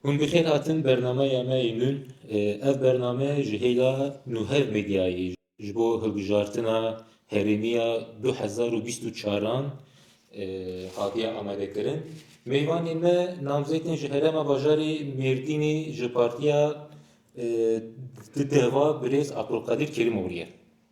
Hûn bi xêr hatin bernameya me yê nûn. Ev bername ji hêla Nûhev Medyayê ji bo hilbijartina herêmî ya du hezar û bîst û çar an hatiye amadekirin. Mêvanê me namzêkên ji herêma bajarê Mêrdînê ji partiya Deva birêz Abdulkadir Kerîmoglû ye.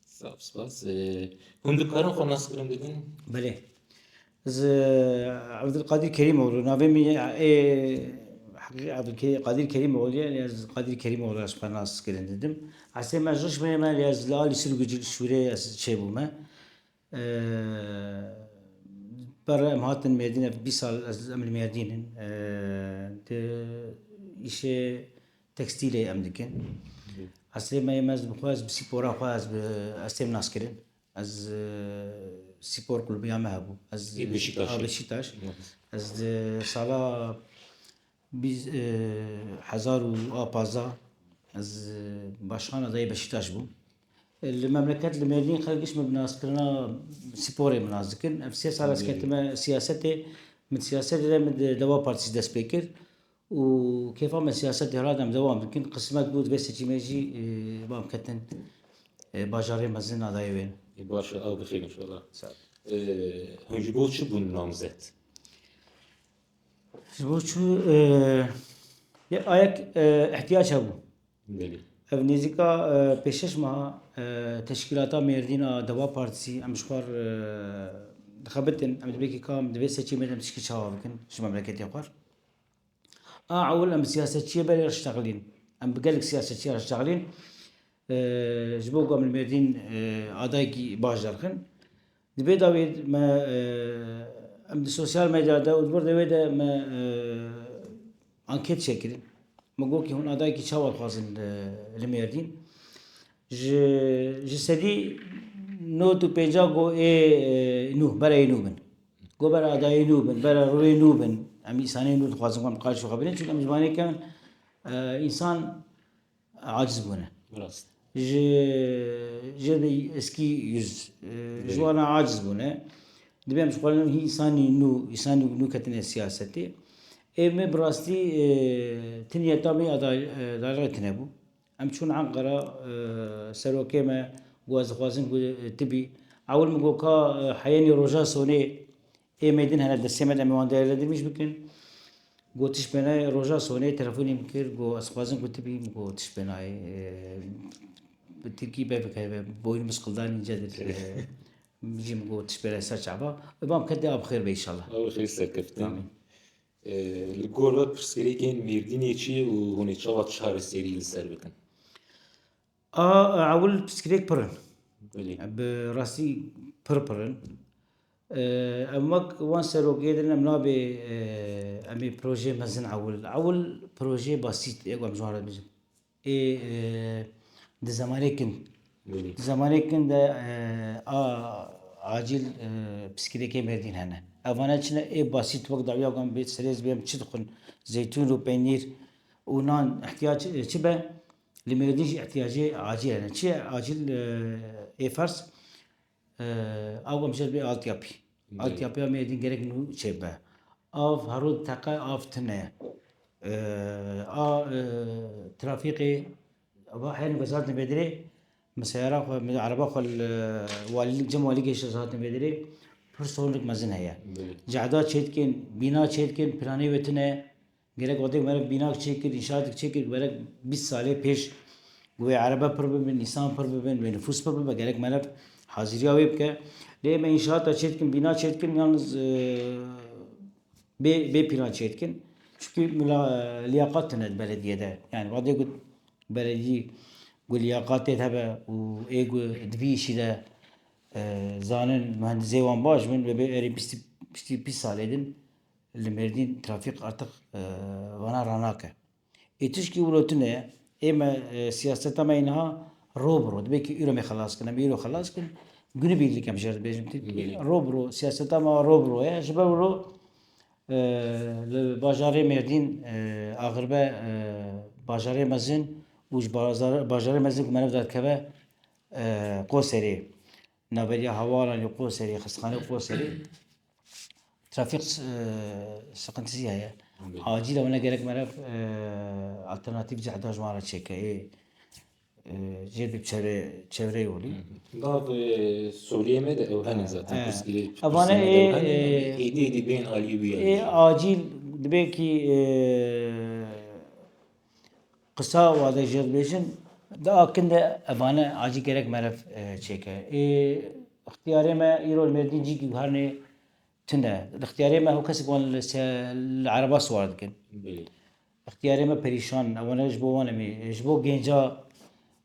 Saf spas. Hûn dikarin xwe naskirin bidin? Belê. Ez Evdilqadir Kerîmoğlu navê min ê Evdilqadir Kerîmoğlu ye lê ez Qadir Kerîmoğlu ez xwe naskirin didim. Esê me Rişmê me lê ez li alî Sirgucî li Şûrê ez çêbûme. Pere em hatin Mêrdîn ev bîst sal ez em li Mêrdîn in. Di îşê Tekstîlê em dikin. Eslê me yê me ez dibixwe ez bi spora xwe ez bi estêm nas kirin. Ez spor kulübiya me hebû. Ez Beşiktaş. Ez di sala hezar û a pazda ez başxana dayê Beşiktaş bûm. Li memleket li Mêrdîn xelk giş min bi naskirina sporê min nas dikin. Ev sê sal ez ketime siyasetê. Min siyasetê de min di Deva Partîs dest pê kir Û kêfa me siyasetê rad em dewam bikin. Qismet bû divê seçîmê jî bam ketin bajarê mezin a dayê wê. Baş e, ew bi xêr înşallah. Hûn ji bo çi bûn namzet? Ji bo çi yek a yek ihtiyac hebû. Belê. Ev nêzîka pêşeş meha teşkîlata Mêrdîn a Deva Partîsî em ji xwar dixebitin em dibêkî kam divê seçîmê de em tişkî çawa bikin ji memleketê xwar. A ewil em bi siyasetçiyê belê re şitexilîn. Em bi gelek siyasetçiyê re şitexilîn. Ji bo ku em li Mêrdîn adayekî baş derxin. Di vê dawî de me em di sosyal medya de û di wir de wê de me anket çêkirin. Me got hûn adayekî çawa dixwazin li Mêrdîn. Ji ji sedî nod û pêncah got ê nû, berê nû bin. Go bera adayê nû bin, bera rûyê nû bin. Em îsanê nû dixwazin em qal şoxa binin çünkü em zimanê kevin insan aciz bûne. Rast. Ji ji de eskî yüz ji wana aciz bûne. Dibê em ji xwalin hî îsanî nû îsanî nû ketine siyasetê. Ê me bi rastî tinya tamê adayê tinebû. Em çûn Enqera, serokê me got ez dixwazim ku tu bî. Ewil min got ka heyenî roja sonê ê me din hene destê me de em ê wan dayê Ledimîş bikin. Got tiştbê nayê. Roja sonê telefonê min kir got ez dixwazim ku tu bî. Min got tiştbê nayê. Bi tirkî bavê ke boynu min siqildanî î nca dir jî min got tiştbê nayê ser çaba. Ê bam ke dê a bi xêr be înşallah. Ewil xêr serkeftin. Li gor ve pirsgirêkên Mêrdînê çi ye û hûn ê çawa çareserî li ser bikin? A ewil pirsgirêk pir in. Belê. Bi rastî pir pir in. Em wek wan serokê din em nabê em ê projeyê mezin ewil. Ewil projeyê basît ê ku em ji wan re dibêjin. Ê di zemanê kin Di zemanê kin de a acîl piskîlekên merdîn hene. Evane çi ne ê basît wek dawiya wan bê serê zibê em çi dixwin zeytûn û peynîr û nan îhtiyac çi be li mêrdîn jî îhtiyacê acîl hene. Çi ye acîl ê ferz Av hemşer bê altyapî. Altyapîya me êdî gerek nû çêbe. Av hero teqe av tune. A trafîqê va hêno kes hatine bêdirê min seyara xwe min ereba xwe li walî cem walî geşt kes hatine bêdirê pir sornek mezin heye. Cehda çêdikin, bîna çêdikin, piranê wê tune Gerek otek meriv bînak çêkir, înşatek çêkir gerek bîst salê pêş ku wê erebe pir bibin, nîsan pir bibin, wê nifûs pir bibe gerek meriv hazîriya wê bike. Lê me înşaata çêdikin, bîna çêdikin yalnîz bê bê pîlan çêdikin. Çikî mila lîyaqat tune di beledîye de. Yanî wadê ku beledî ku lîyaqatê hebe û ê ku di vî îşî de zanin muhendizê wan baş bin wê bê erê bîstî pîst salê din Li Mêrdîn trafîk artiq vana ranake. Ê tişkî wilo tune ye. Ê me siyaseta me yê niha ro bi ro. Dibe kî îro me xelas kin, em îro xelas kin. Gunî bîr dikim jê re dibêjim tî ro bi ro. Siyaseta me ro bi ro ye. Ji ber wilo li bajarê Mêrdîn axirbe bajarê mezin û ji bajarê mezin ku meriv derdikeve Qoserê, navberiya hewalan ê Qoserê, xistexaneyê Qoserê, trafîk siqintizî heye. Acîl e wene gerek mere alternatîf cehda ji wan re çêke ê jê bi çevre çevreyê holî. Gav Sûriyê me de ew hene zaten pirsgirê. Ev vane ê êdî êdî bên alî wî ye. Ê acîl dibe kî Qisa wade jê dibêjin di a kin de ebane acî gerek meriv çêke. Ê ixtiyarê me îro li Mêrdîn cî giwharnê tune. Li ixtiyarê me ho kesek wan li ereba siwar dikin. Ixtiyarê me perîşan in. Ew ne ji bo wan em ê. Ji bo gênca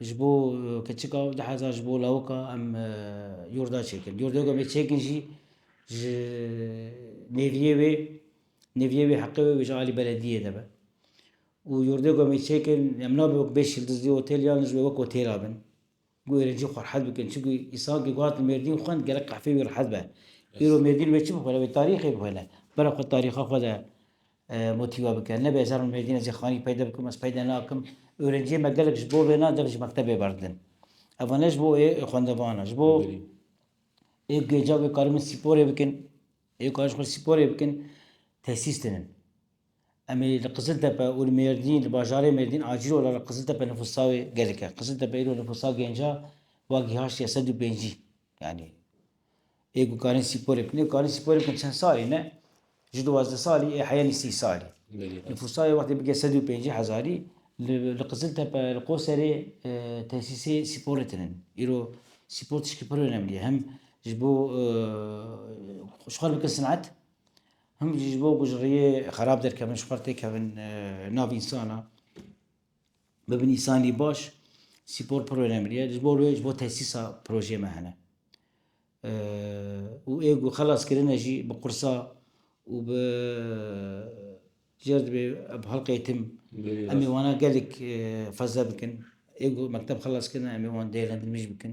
Ji bo keçika û diheza ji bo lawika em yurda çêkin. Yurda ku em ê çêkin jî ji nêviyê wê nêviyê wê heqê wê wê ji alî belediyê de be. Û yurda ku em ê çêkin em nabe wek bêş yildizlî otêl yan jî wek otêla bin. Ku êrencî xwe rehet bikin. Çimkî îsan ku gotin mêrdîn xwend gelek qehfê wî rehet be. Îro mêrdîn wê çi bixwene? Wê tarîxê bixwene. Bira xwe tarîxa xwe de. Motî we bike. Nebe ez her min Mêrdîn ez ê xanî peyde bikim, ez peyde nakim. Ewrenciyê me gelek ji bo vê na deng ji mektebê berdin. Eva ne ji bo ê xwendevan e, ji bo ê gêca wê karibin spîporê bikin, ê karin ji xwe spîporê bikin, tesîs tinin. Em ê li Qiziltepe û li Mêrdîn, li bajarê Mêrdîn acîl ola li Qiziltepe nifûsa wê gelek e. Qiziltepe îro nifûsa gênca wa gîhaştiye sed û pêncî. Yanî ê ku karîn spor bikin ê karîn spor bikin çend salî ne? Ji duwazdeh salî ê heyenî sî salî. Nifûsa wextê bike sed û pêncî hezarî li Qiziltepe li Qoserê e, tesîsê sporê tinin. Îro spor tişkî pir önemlî ye. Hem ji bo e, ji xwe bikin sinet hem jî ji bo ku ji rêyê xerab derkevin ji xwe têkevin e, nav însana. Bibin îsanî baş spor pir önemli ye. Ji bo wê ji bo tesîsa projeyê me hene. Û ê ku xelas kirine jî bi qursa û bi cerdibê bi helqeyê tim em ê wana gelek fezle bikin. Ê ku mekteb xelas kirine em ê wan değerlendirmej bikin.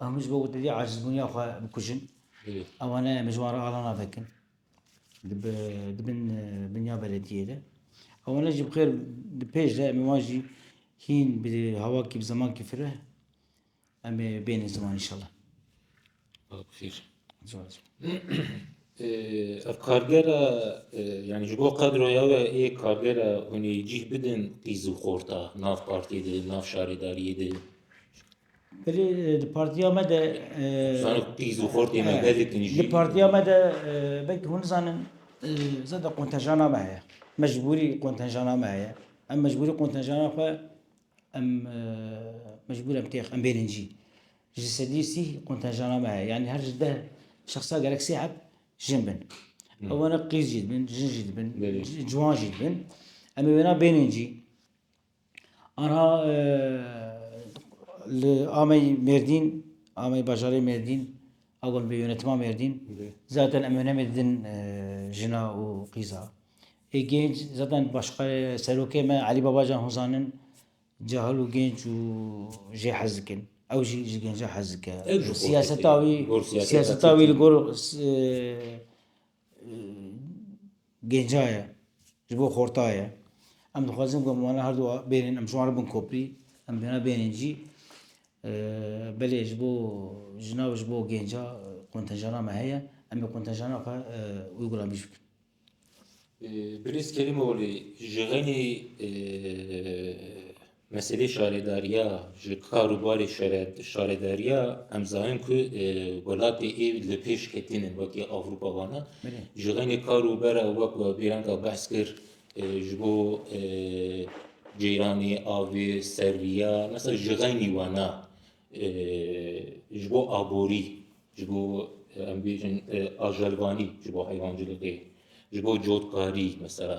Ew min ji bo witîdî acizbûniya xwe bikujin. Ewa ne em ji wan re ala navekin. Di bin binya belediyê de. Ewa ne jî bi xêr di pêş de em ê wan jî hîn bi hawakî bi zemankî fireh em ê bêhnin ziman înşallah. Bixêr. Ev kargera yani ji bo qedroya we ê kargera hûn ê cîh bidin qîz û xorta nav partiyê de, nav şaredariyê de. Belê di partiya me de di partiya me de belkî hûn nizanin zêde qontejana me heye. Mecbûrî qontejana me heye. Em mecbûrî qontejana xwe em mecbûr em têx em bêrîn cî. Ji sedî sî qontejana me heye. Yanî her ji deh şexsa gerek sê heb jin bin. Ew were qîz jî dibin, jin jî dibin, ciwan jî dibin. Em ê wêna bênên cî. Anha li Amey Mêrdîn Amey bajarê Mêrdîn a got bi yûnîtima Mêrdîn zaten em hemê didin jina û qîza ê gênc zaten başqerê serokê me Elî Babacan hûn zanin cahil û gênc û jê hez dikin ew jî ji gêncan hez dike siyaseta wî siyaseta wî li gor Gênca ye, ji bo xorta ye. Em dixwazin ku em wan her du bêrên, em ji wan re bin koprî, em bêhna bêrên cî. Belê ji bo jina û ji bo gênca kontenjana me heye. Em ê kontenjana xwe wê gula bîr bikin. Birêz Kerîmoglî, ji xênî Meselê şaredariya ji kar û barê şaredariya em zanin ku welatê ê li pêş ketîn in wekî Avrupa wana. Ji xenê kar û bera wek we bêranga behs kir ji bo ceyranê avê serriya mesela ji xenî wana ji bo aborî ji bo em bêjin ajelvanî ji bo heywancilîkê ji bo cotkarî mesela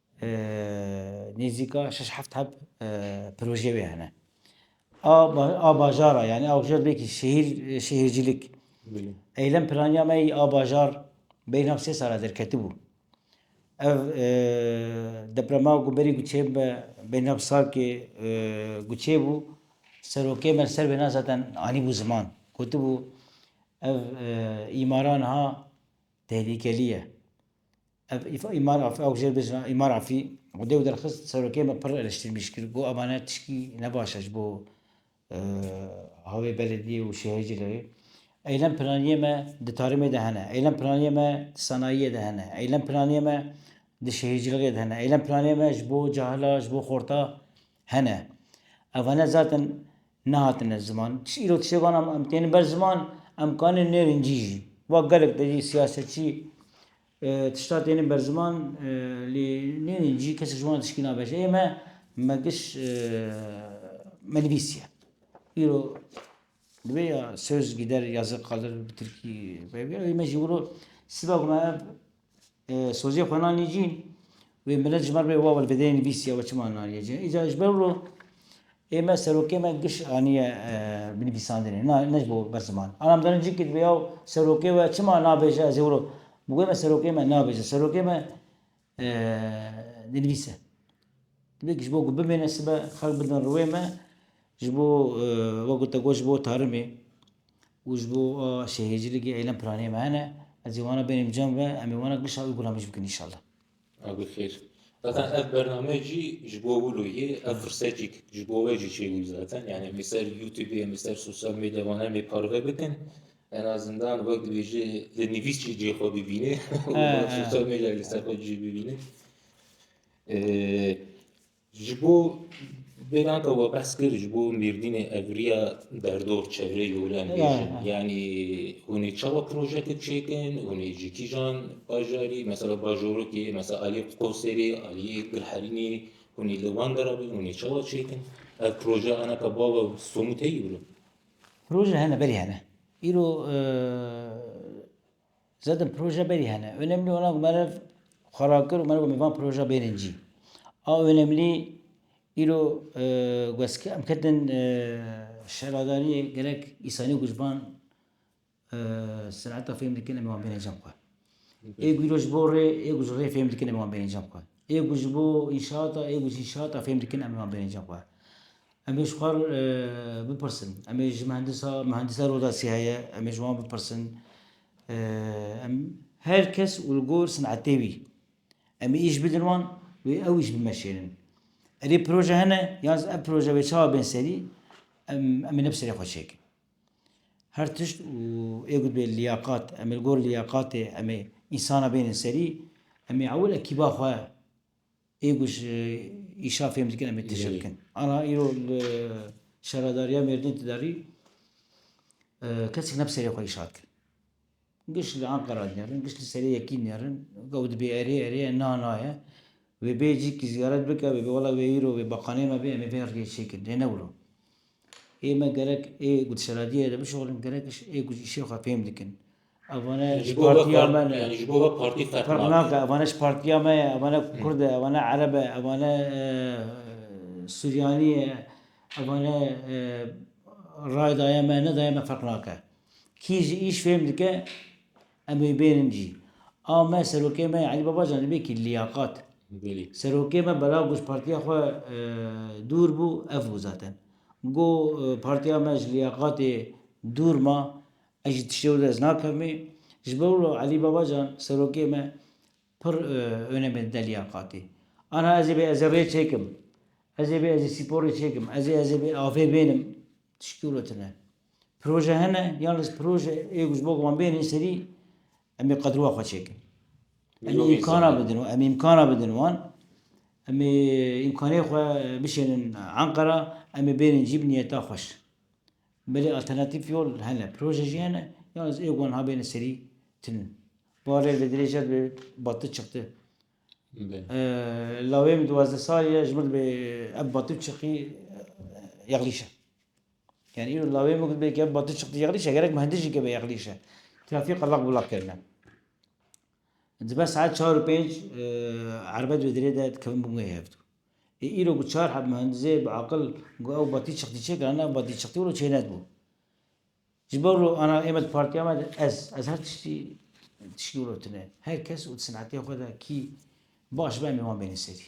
Nêzîka şeş heft heb projeyê wê hene. A bajara yanî awjer bêkî şehîr şehîrcîlik. Eylem planiya me yî a bajar beyna sê sala derketibû. Ev deprema ku berî guçê me beyna salkê guçê bû serokê me ser wêna zaten anîbû ziman. Gotibû ev îmara niha tehlîkelî ye. Ev Îmar Afî ew jê bêjin a Îmar Afî wide û derxist serokê me pir eleştirmîş kir got ava ne tişkî ne baş e ji bo havê belediyê û şehê jî lewê. Eylem piraniyê me di tarimê de hene. Eylem piraniyê me di sanayiyê de hene. Eylem piraniyê me di şehêcilixê de hene. Eylem piraniyê me ji bo cahila, ji bo xorta hene. Evane zaten nehatine ziman. Tiş îro tiştê wan em têne ber ziman em kanê nêrîn cî jî. Wa gelek de jî siyasetçî Tişta têne ber ziman lê nêdîn jî kesek ji wan re tişkî nabe. Ji ême me giş me nivîsiye. Îro divê ya söz gider ya zı kalır bi tirkî peyvî ew ê me jî wilo siba ku me ev sozê xwe nanî cî wê milet ji me re bê wawil bidê nivîsiye we çima naniye cî. Îca ji ber wilo Ê me serokê me giş aniye binivîsandinê, na ne ji bo bes ziman. Ana em dizanin cî kî dibe yaw serokê we çima nabêje ez ê wiro bigurê me serokê me nabêje serokê me dinivîs e. Dibe kî ji bo ku bimêne sibe xelk bidin riwê me ji bo wek te got ji bo tarimê û ji bo a şehîrcilikê eylem planê me hene. Ez ê wana bênim cem ve em ê wana gişa wî gulamî jî bikin înşallah. Ew bi xêr. Zaten ev bername jî ji bo wilo yê, ev firsetîk ji bo we jî çêbû zaten. Yani em ê ser YouTubeê, em ê ser sosyal medya wan em ê parve bikin. En azından wek dibêjê li nivîs jî cihê xwe bibînê û sosyal medya li ser xwe jî bibînê. Ji bo vê nata we behs kir ji bo mêrdînê evriya derdor çevreyê Yolê em bêjin. Yanî hûn ê çawa projeyeke çêkin, hûn ê ji kîjan bajarî mesela bajorokê mesela aliyê Qoserê, aliyê Gilherînê hûn ê li wan dera bin, hûn ê çawa çêkin. Ev projeya anaka bava somût heye îro? Proje hene, belê hene. Îro Zedin proje berî hene. Önemli olan ku meriv xwe rakir û meriv got min van proja bêrên cî. A önemlî îro westkir em ketin şeradariyê gerek îsanî ku ji van seneta fêm dikin em ê wan bêrên cem xwe. Ê ku îro ji bo rê ê ku ji rê fêm dikin em ê wan bêrên cem xwe. Ê ku ji bo înşaata ê ku ji înşaata fêm dikin em ê wan bêrên cem xwe. Em ê ji xwe bipirsin. Em ê ji mihendisa mihendisa Rodasî heye, em ê ji wan bipirsin. Em her kes û li gor sinetê wî. Em ê îş bidin wan wê ew îş bimeşênin. Erê proje hene yan ev proje wê çawa bên serî em em ê ne bi serê xwe çêkin. Her tişt û ê gotibê lîyaqat em ê li gor lîyaqatê em ê însana bênin serî. Em ê ewil ekîba xwe Ê ku ji îşa fêm dikin em ê tije bikin. Ana îro li Şaradariya Mêrdîn Tidarî kesek ne bi serê xwe îşa dikin. Giş li Enqera dinerin, giş li serê yekî dinerin. Ew dibê erê erê ye, na na ye. Wê bê cîkî ziyaret bike wê bê wela wê îro wê baqanê me bê em ê bên rê çêkin. Lê ne wilo. Ê me gerek ê ku di şaradiyê de bişoxilin gerek ê ku ji îşê xwe fêm dikin. Evan e ji partiya me ne. Ji bo we partî ferq nake. Ferq nake. Evan e ji partiya me ye. Evan e kurd e. Evan e ereb e. Evan e suryanî ye. Evan e rayê dayê me ye, ne dayê me ferq nake. Kî jî îş fêm dike em wê bêrin cî. A me serokê me Elî Babacan li bêkî lîyaqat. Serokê me belav bû ji partiya xwe dûr bû ev bû zaten. Got partiya me ji lîyaqatê dûr ma. Ez ji tiştê wilo ez nakevmê. Ji ber wilo Elî Babacan serokê me pir onemê dide liyaqatê. Ana ez ê bê ez ê rê çêkim. Ez ê bê ez ê sîporê çêkim. Ez ê ez ê bê avê bênim. Tiştî wilo tune. Proje hene yan li proje ê ku ji bo ku wan bênê serî em ê qedrûa xwe çêkin. Em ê îmkana bidin em ê îmkana bidin wan. Em ê îmkanê xwe bişênin Enqera, em ê bênin cî bi niyeta xweş. Belê alternatîf yol hene, proje jî hene yalnîz ê wan habêne serî tune. Barê li dirêja dibê batil çixte. Lawê min duwazdeh salî ye ji min dibê ev batil çixî yexlîş e. Yani îro lawê min dibê ev batil çixî yexlîş e gerek min hindê jî keve yexlîş e. Trafîk qeleq belaq kirine. Dibe saet çar û pênc erbet wê dirê de dikevin bi wê hev dû. Ê îro ku çar heb muhendizê bi aqil got ew batî çixtî çêkirane ew batî çixtî wilo çênet bû. Ji ber wilo ana ême di partiya me de ez ez her tiştî tiştî wilo tune. Her kes û di sinetê xwe de kî baş be em ê wan bêne serî.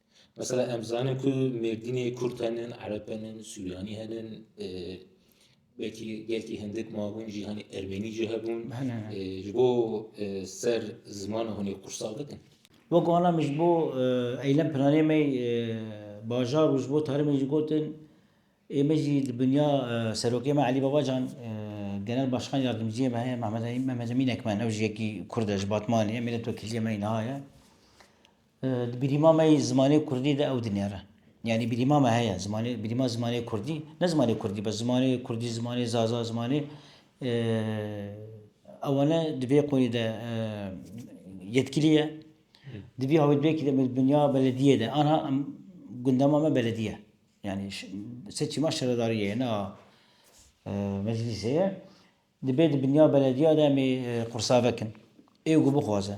Mesela em zanin ku Mêrdînê Kurd henin, Ereb henin, Suryanî henin, e, belkî gelkî hindik mabûn jî hanî Ermenî jî hebûn. E, ji bo e, ser zimana hûnê qursal bikin. Wek wana min ji bo e, eylem pinanê me e, bajar û ji bo tarî min jî gotin ê me jî di binya e, serokê me Elî Babacan e, genel başkan yardimciyê me heye Mehmed Emîn Mehmed Emîn Ekmen ew jî yekî Kurd e ji Batmanê ye, mîletvekiliyê me niha ye. Di bîrîma me yî zimanê kurdî de ew dinêre. Yanî bîrîma me heye, zimanê bîrîma zimanê kurdî, ne zimanê kurdî bes, zimanê kurdî, zimanê zaza, zimanê ewane di vê qûnî de yetkilî ye. Di vî hawîrvekî de bi dinya belediyê de anha em gundema me belediye. Yani seçî ma şaredariyê ye, ne meclîsê ye. Dibê di binya belediya de em ê qursave kin. Ê ku bixwaze.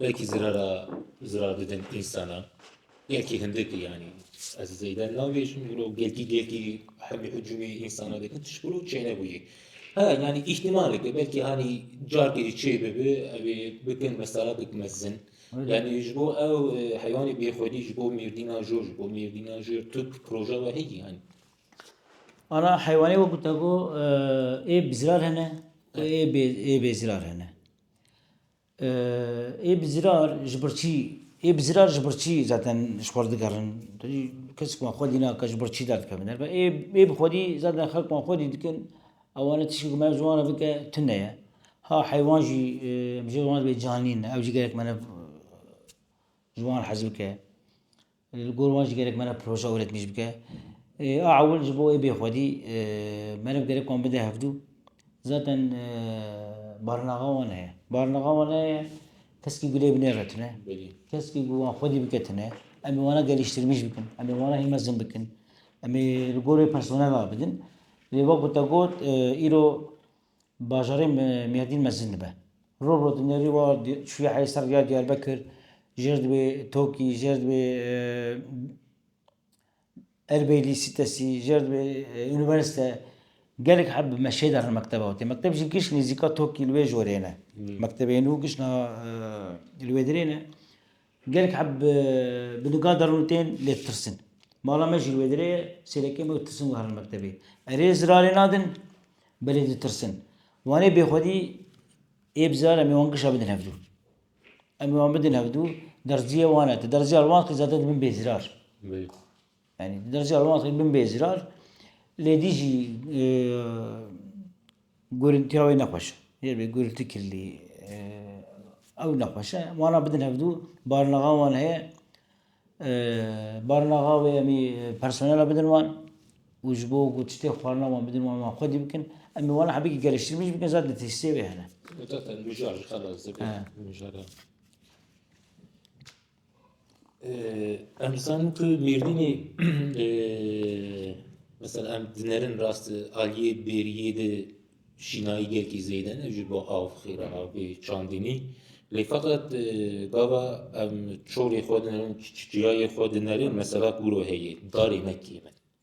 Belkî zirara zirar bidin însanan. Belkî hindik yanî ez zêde nabêjim îro gelkî gelkî hemî hicûmê însanan dikin tişt îro çênebûyê. Ha yanî îhtîmalek e belkî hanî carkê jî çê bibe ew ê bikin mesela bik mezin. Yanî ji bo ew heywanê bêxwedî ji bo mêrdîna jor ji bo mêrdîna jor tu proje we heye yanî. Ana heywanê wekî te got ê bi zirar hene û ê bê zirar hene. Ê bi zîrar ji ber çî ê bi zîrar ji ber çî zaten ji xwe re digerin? Kesik wan xwedî nake ji ber çî derdikevin herba ê ê bi xwedî zaten xelk wan xwedî dikin ewana tiştî ku me ji wan re bike tune ye. Ha heywan jî em ji wan re bê canî ne ew jî gelek meriv ji wan hez bike. Li gor wan jî gerek meriv projeya wê re dimîj bike. A ewil ji bo wê bê xwedî meriv gerek wan bide hevdû. Zaten barinaxa wan heye. Barinaxa wan heye keskî ku lê bi nê re tune. Keskî ku wan xwedî bike tune. Em ê wana gelîştirmîj bikin. Em ê wana hîn mezin bikin. Em ê li gor wê personel rabidin. Lê wek ku te got îro Bajarê Mêrdîn mezin dibe. Roj roj di nêrî wa çûye heyî ser rêya Diyarbekir, jêr dibê Tokî, jêr dibê Erbeylî sîtesî, jêr dibê unîversîte. Gelek heb bi meşê de rin mekteba wê. Mekteb jî giş nêzîka Tokî li wê jorê ne. Mektebê nû giş niha li wê dirê ne. Gelek heb bi niga derûnê tên lêtirsin. Mala me jî li wê derê ye, sêrekê me û tirsin guherîn li mektebê. Erê zirarê nadin, belê ditirsin. Wanê bêxwedî ê bi zirar em ê wan gişa bidin hevdû. Em ê wan bidin hevdû, derziyê wan e. Ti derziyê li wan xizate dibin bêzirar. Yanî di derzeya rewandxî bin bê zirar lê dî jî gurîntiya wê ne xweş e. Yê gurîntî kirlî ew ne xweş e. Wana bidin hevdû barinaxa wan heye barinaxa wê emî personela bidin wan û ji bo ku tiştê xwarina wan bidin wan wan xwedî bikin. Emî wana hebekî geliştirmî jî bikin zad li tesîsê wê hene. Em dizanin ku mêrdînê mesela em dinerin rast aliyê bêriyê de şînayî gelkî zêde ne ji bo av xêra av bê çandinî. Lê feqet gava em çolê xwe dinerin, çiyayê xwe dinerin mesela kûro heye darê ne kêm e.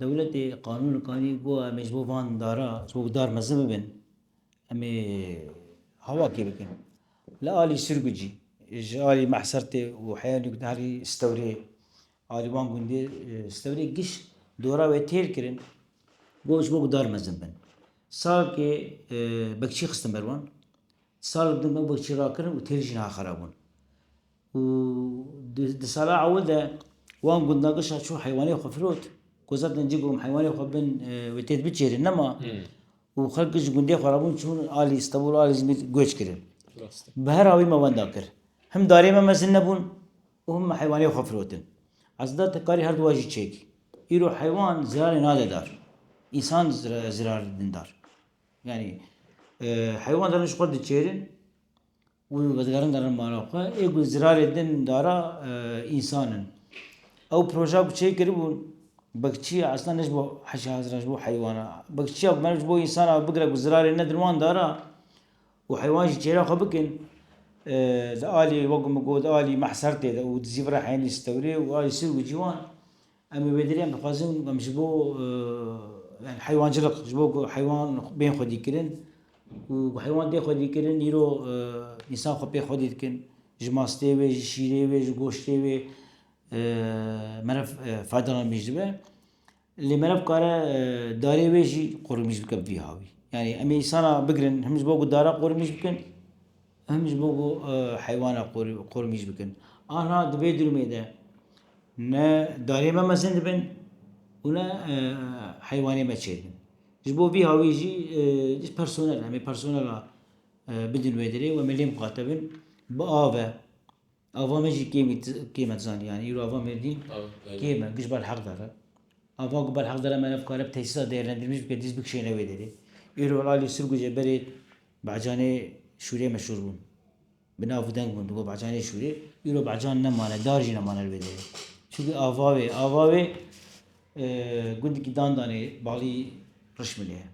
Dewletê qanûn li kanî û got em ê ji bo van dara ji bo ku dar mezin bibin em ê hawakê bikin. Li alî Sirgucî ji alî Mehsertê û heya nû gotin herî Stewrê alî wan gundê Stewrê giş dora wê têr kirin got ji bo ku dar mezin bin salkê bekçî xistin ber wan. Salek din ew bekçî rakirin û têr jî niha xera bûn. û di sala ewil de wan gundan giş a çû heywanê xwe firot ku zaten cî gorum heywanê xwe bin wê têt biçêrin nema û xelk ji gundê xwe re bûn çûn alî Stenbol alî Zimîr göç kirin. Bi her awî me wenda kir. Him darê me mezin nebûn û him me heywanê xwe firotin. Ez da te karî her duwa jî çêkî. Îro heywan zirarê nade dar. Însan zirar didin dar. Yanî heywan zaten ji xwe diçêrin. Û vezigaran darin mala xwe. Ê ku zirarê din dara însan in. Ew proja ku çê kiribûn bekçî ye eslan ne ji bo heşê haziran ji bo heywana. Bekçiya ku meriv ji bo însan a bigire ku zirarê ne din wan dara û heywan jî çêra xwe bikin di aliyê wek ku min got aliyê meh ser tê de û dizî vira heynî stewrê û aliyê sirgûcî wan Em bi bêderiyan dixwazin em ji bo yani heywancilik ji bo ku heywan bên xwedîkirin û ku heywan tê xwedîkirin îro însan xwe pê xwedî dikin. Ji mastê wê, ji şîrê wê, ji goştê wê meriv faydalan mîş dibe. Lê meriv kare darê wê jî qurmîş bike bi vî havî. Yani em ê însana bigirin him ji bo ku dara qurmîş bikin. Em ji bo ku heywana qormîş bikin anha di vê durumê de ne darê me mezin dibin û ne heywanê me çê dibin. Ji bo vî hawî jî ji personel em ê personela bidin wê derê û em ê lê miqate bin bi av e. Ava me jî kêmî kêm e, tu zanî yanî îro ava Mêrdîn kêm e, giş Belheqdar e. Ava ku Belheqdar heme ne bikare bi tesîsa dêrlendirmij bike dîst bikişêne wê derê. Îro li aliyê Sirgucê berê Bahcanê Şûrê meşhûr bûn. Bi nav û deng bûn digot Bahcanê Şûrê. Îro Bahcan nemane, dar jî nemane li vê derê. Çunkî ava wê, ava wê gundikî Dandanê balî Rişmilê ye.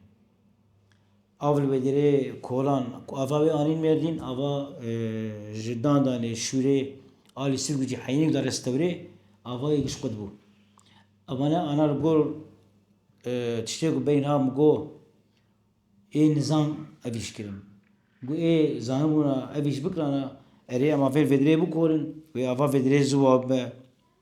Av li Wêdirê kolan ku ava wê anîn Mêrdîn, ava ji Dandanê, Şûrê, alî Sirgucê, Heyînî û darê Stewrê avayê giştqut bû. Avane ana li gor tiştê ku bey niha min got ê nizam ev îş kirin. Got ê zanibûna ev îş bikirana erê em avayên Vêdirê bikorin, wê ava Vêdirê ziwa bibe.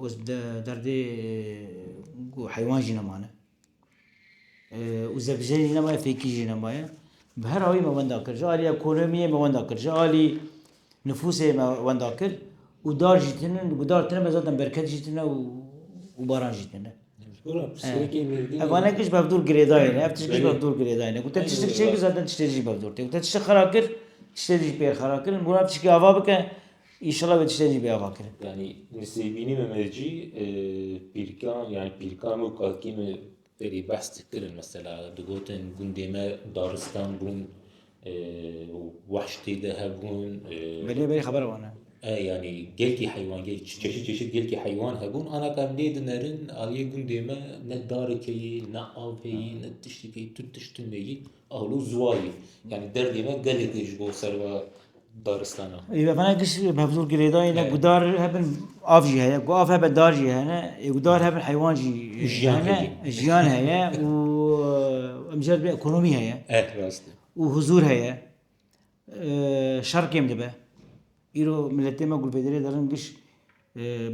û ez bi derdê ku heywan jî nemane û zevicê jî nemaye fêkî jî nemaye bi her awî me wenda kir. Ji alî ekonomiyê me wenda kir, ji alî nifûsê me wenda kir û dar jî tune û ku dar tune me zaten berket jî tune û baran jî tune. Hevanek ji bavdûr girêdayê ne, ev tişt jî bavdûr girêdayê ne. Ku te tiştek çêkir zaten tiştê jî bavdûr tê. Ku te tiştek xera kir, tiştê jî pêr xera kir. Mûran tişkî ava bike Înşallah vê tiştê jî bê ava kirin. Yanî min sêbînî min mercî pîrkan yanî pîrkan û kakî min berî behs dikirin mesela digotin gundê me daristan bûn wahş tê de hebûn. Belê berî xeber wan e. yani gelkî heywan çeşit çeşit gelkî heywan hebûn ana ka lê dinerin aliyê gundê me ne darikeyî ne aveyî ne tiştikeyî tu tiştin meyî Alu zuwayî yanî derdê me gelê tê ji bo serva daristana. Ê vevana giş bevzûr girêdayê ne gudar hebin av jî heye. Gu av hebe dar jî hene. Ê gudar hebin heywan jî hene. Jiyan heye û emcer bi ekonomî heye. Eh rast e. Û huzûr heye. Şer kêm dibe. Îro miletê me gulpêderê derin giş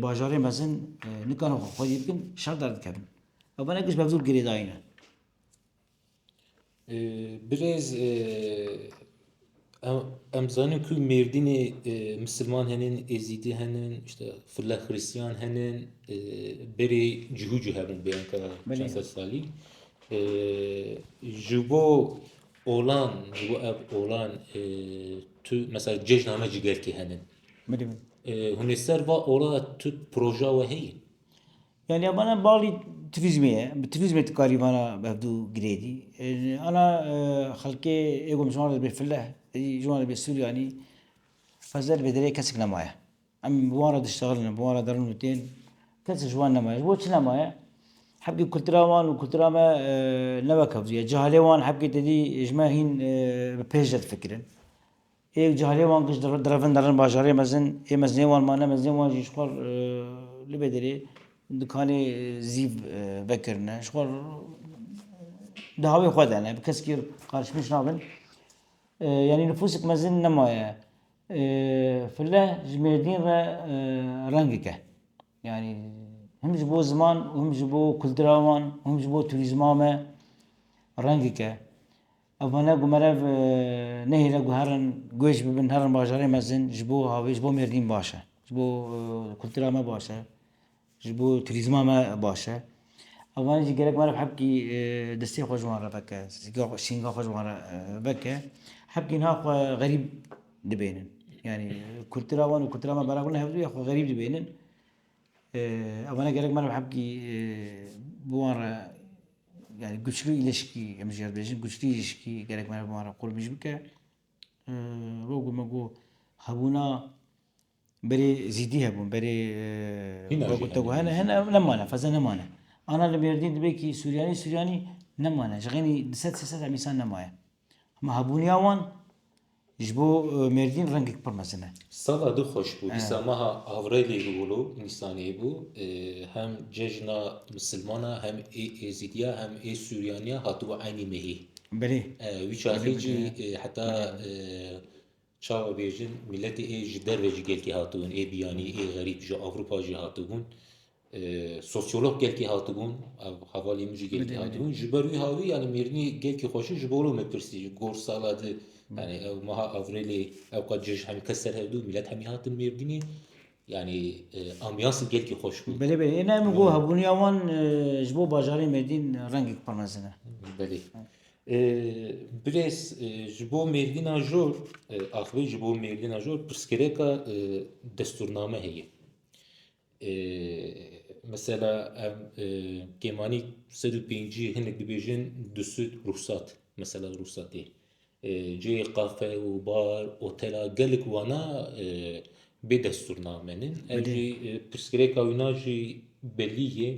bajarê mezin nikane xwe xwedî bikin şer derdikevin. Vevana giş bevzûr girêdayî ne. Birêz em dizanin ku mêrdînê misilman hene êzidî hene îşte file xirîstiyan hene berê cihû cî hebûn bê anka çend sed salî ji bo olan ji bo ev olan tu mesela cejna me cîgerkê hene hûnê ser va ola tu proja we heye Yanî abana balî turîzmê ye. Bi turîzmê tu karî vana bevdû girêdî. Ana xelkê ê gom ji wan re dibê file, êdî ji wan re dibê Suryanî. Feze li Bêderê kesik nemaye. Em bi wan re diştexilin, bi wan re derin û tên. Kesik ji wan nemaye. Ji bo çi nemaye? Hebkê kultura wan û kultura me newekevdûye. Cehalê wan hebkê têdî ji me hîn bi pêş re difikirin. Hêk carê wan kişt direvin derin bajarê mezin ê mezinê wan mane mezinê wan jî jixwe li Bêdirê dikanê zîv vekirine jixwe di hawê xwe de ne bi kesekî qarşimeş nabin yanî nifûsek mezin nemaye file ji mêrdîn re rengek e yanî him ji bo ziman û him ji bo kultura wan û him ji bo turîzma me rengek e Ev wene ku merev nehêle ku herin guhêj bibin, herin bajarê mezin ji bo havê, ji bo mêrdîn baş e, ji bo kultura me baş e, ji bo turîzma me baş e. Ev wene jî gerek merev hebkî destê xwe ji wan re veke, şînga xwe ji wan re veke. Hebkî niha xwe xerîb dibêjin. Yanî kultura wan û kultura me bera ku ne hevdû ye xwe xerîb dibêjin. Ew ne gerek meriv hebkî bi wan re yani güçlü ilişkî em jî ez bêjin güçlü ilişkî gerek meriv bi wan re qurmîj bike. Wek ku me got hebûna berê zîdî hebûn berê hene hene ew nemane feza nemane. Ana li Mêrdîn dibe kî Suryanî Suryanî nemane ji xênî di sed sê sed em însan nemaye. Hema hebûniya wan ji bo Mêrdîn rengek pir mezin e. Sala du xweş bû. Dîsa meha Avrelî Rûlu Nîsanê bû. Hem cejna misilman a, hem ê êzîdî ya, hem ê sûryanî ya hatibû eynî mehî. Belê. Wî çaxê jî heta Çawa bêjin mîletê ê ji derve jî gelkî hatibûn, ê biyanî, ê xerîb ji Ewropa jî hatibûn. Sosyolog gelkî hatibûn, ev hevalê min jî gelkî hatibûn. Ji ber wî hawî yanî mêrnî gelkî xwe ji bo me pirsî gor sala di yanî ew meha Avrêlê ew qat cih hemî kes ser hevdû mîlet hemî hatin mêrdînê. Yani ambiyansı gelki hoş bû. Belê belê. Êna min ku hebûniya wan ji bo bajarê Mêrdîn rengek pir mezin e. Belê. Birêz ji bo mêrdîna jor axivî ji bo mêrdîna jor pirsgirêka destûrname heye. Mesela em kêmanî sed û pêncî hinek dibêjin di sûd rûxsat mesela rûxsatê cihê qafe û bar otela gelek wana bê destûrname ne ev jî pirsgirêka wina jî belî ye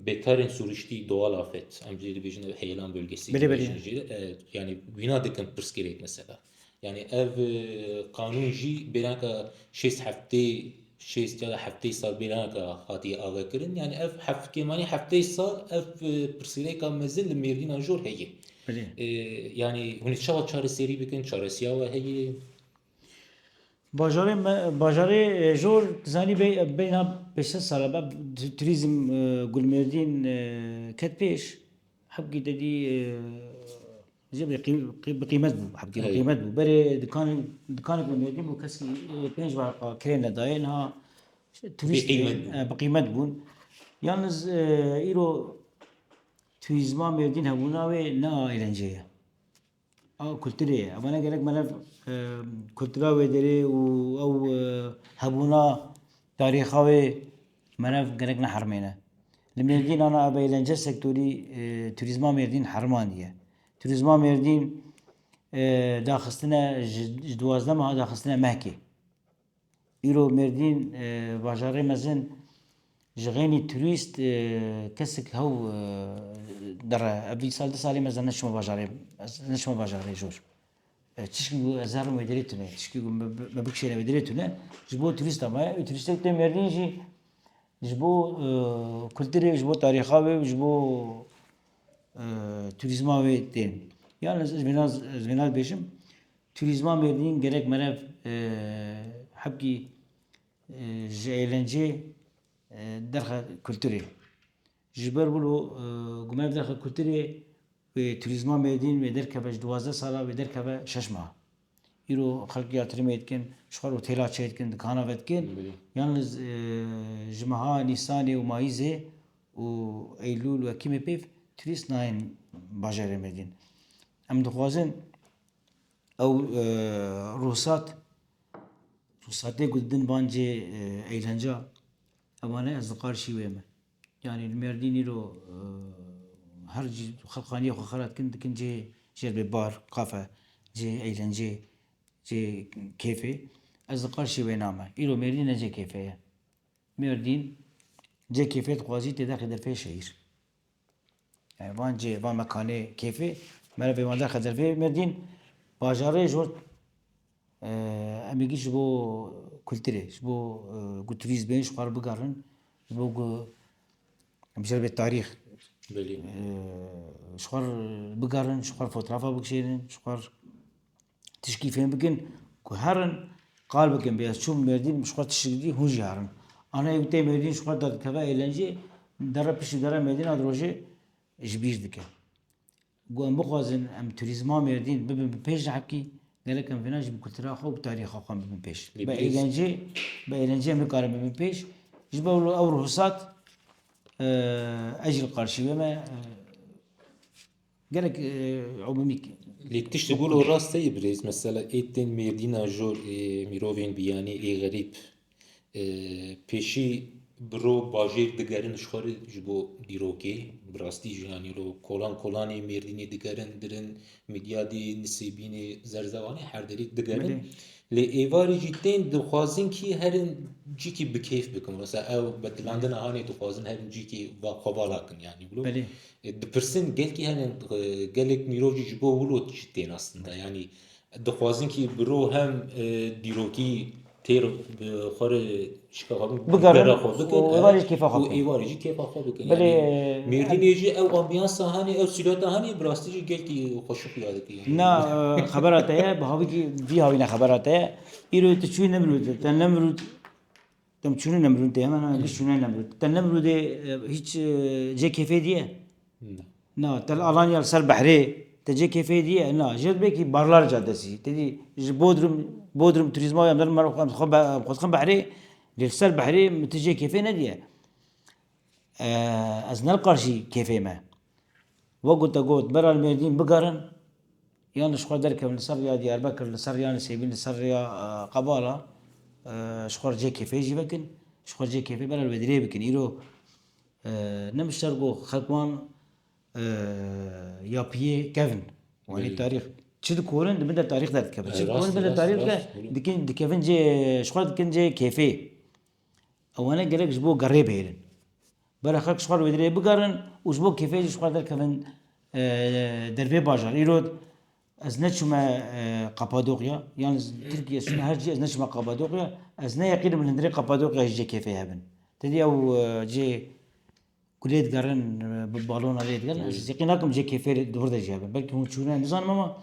Bêkarên sûriştî doğal afet em jê dibêjin ev heyelan bölgesî Belê, belê. dibêjin jê e, yanî wîna dikin pirsgirêk mesela. Yanî ev e, qanûn jî bêranka şêst heftê şêst ya da heftê sal bêranka hatiye avekirin. Yanî ev heft kêmanî heftê sal ev e, pirsgirêka mezin li mêrdînan jor heye. Belê. E, yanî hûn ê çawa çareserî bikin, çaresiya we heye. Bajarê me bajarê jor zanî bê beyna pênc sed sal e turîzm gulmêrdîn ket pêş hebkî te dî jê bê bi qîmet bû hebkî bi qîmet bû berê dikan dikanek li mêrdîn bû keskî pênc wereqa kirê nedaye niha turîst bi qîmet bûn yalnîz îro turîzma mêrdîn hebûna wê ne erencê ye. Ew kulturê ye. Ew ne gerek melev kultura wê derê û ew hebûna tarîxa wê melev gerek neherimêne. Li Mêrdîn ana ev eğlence sektorî turîzma Mêrdîn herimandiye. Turîzma Mêrdîn daxistine ji duwazdeh meha daxistine mehkê. Îro Mêrdîn bajarê mezin ji xênî turîst kesik hew dire. Ev vî sal du salê me zana çima bajarê ez neçima bajarê jor. Çişkî ku ez herim wê dirê tune, çişkî ku me bikişêne wê dirê tune ji bo turîsta me ye û turîstê ku tê Mêrdîn jî ji bo kulturê ji bo tarîxa wê û ji bo turîzma wê tên. Yan ez ji vêna dibêjim. Turîzma Mêrdîn gelek merev hebkî ji êlencê derxe kulturê. Ji ber wilo ku mev derxe kulturê wê Turîzma Mêrdîn wê derkeve ji duwazdeh sala wê derkeve şeş meha. Îro xelk ya Tirimê dikin, ji xwe re têla çê dikin, dikana ve dikin. Yan ji meha Nîsanê û Mayîzê û Eylûl û Ekîmê pêv turîst nayên bajarê Mêrdîn. Em dixwazin Ew ruhsat ruhsatê ku didin van cê eğlence ewan e ez li Qarşî wê me. Yanî li Mêrdîn îro her cî xelqaniyê xwe xera dikin dikin cê jê re bê bar, kafe, cê eğlencê, cê kêfê. Ez li Qarşî wê na me. Îro Mêrdîn ne cê kêfê ye. Mêrdîn cê kêfê dixwazî têde qîde pê şehîr. Yani van cê, van mekanê keyfê merevê wan de xedirvê merdîn bajarê ji bo em ê gî ji bo kulturê, ji bo ku turîst bên ji xwe re bigerin, ji bo ku em bêjin vê tarîx ji xwe re bigerin, ji xwe re fotografa bikişênin, ji xwe re Tişkî fêm bikin ku herin qal bikin bê ez çûm Mêrdîn ji xwe tişt dikî hûn jî herin. Ana ew tê Mêrdîn ji xwe da dikeve êlencê dere piştî dere Mêrdîna di rojê ji bîr dike. Ku em bixwazin em turîzma Mêrdîn bibin bi pêş dihekî gelek em vêna jî bi kultura xwe û bi tarîxa xwe bibin pêş. Bi êlencê bi êlencê em nikarin bibin pêş. Ji ber wilo ew ruhsat ez jî li qarşî wê me Gelek umumîk. Lê tiştê ku li rast heye birêz mesela ê tên mêrdîna jor ê mîrovên biyanî ê xerîb pêşî bi ro bajêr digerin ji xwe re ji bo dîrokê bi rastî jî yanî îro kolan kolanê mêrdînê digerin dirin mîdyadê nisêbînê zerzewanê her derê digerin lê êvarê jî tên dixwazin kî herin cîkî bi kêf bikin wisa ew bi dilandina hanê dixwazin herin cîkî va xwe vala kin yanî Dipirsin gelkî hene gelek mîrov jî ji bo wilo çi tê nastinda yanî dixwazin kî bi ro hem dîrokî têr bi xwe re şika xwe bigera xwe bikin êvarê jî kêfa xwe bikin êvarê jî kêfa xwe bikin belê mêrdînê jî ew ambiyansa hanê ew sîlata hanê bi rastî jî gelkî xweşik ya dike na xebera te ye bi havî kî vî havî ne xebera te ye îro tu çûyî ne mirû te ne mirû Dem çûne Nemrûdê hemen hemen giş çûne Nemrûd. Te Nemrûdê hiç cê kêfê diye? Na. Te li Alanya li ser behrê te cê kêfê diye? Na. Jêr bêkî Barlar Cadesî. Te dî ji Bodrum Bodrum turîzma em dixwin behrê lê li ser behrê min ti cê kêfê nediye. Ez nelqajî kêfê me. Wego te got Meral Mêrdîn bigerin yan li xwe derkevin li ser rêya Diyarbekir, li ser rêya Nisêbîn, li ser rêya Qebala ji xwe re cih kêfê jî vekin, ji xwe re cih kêfê Meral Bedirê bikin. Îro ne mişter ku xelk wan ya piyê kevin. Wanê tarîx çi dikorin di bin de tarîx derdikevin. Çi dikorin di bin de tarîx dikevin dikevin cihê ji xwe re dikin cihê kêfê. Ewane gerek ji bo gerê bihêlin. Bere xelk ji xwe re wê dirêjê bigerin û ji bo kêfê jî ji xwe re derkevin dervê bajar. Îro ez neçûme Qapadoqya yan ji Tirkiyê çûme her cî ez neçûme Qapadoqya. Ez neyeqînim li hundirê Qapadoqyayê jî kêfê hebin. Ti dî ew cê ku lê digerin bi balona lê digerin ez yekîn nakim cê kêfê li wir de jî hebin. Belkî hûn çûne nizanim ama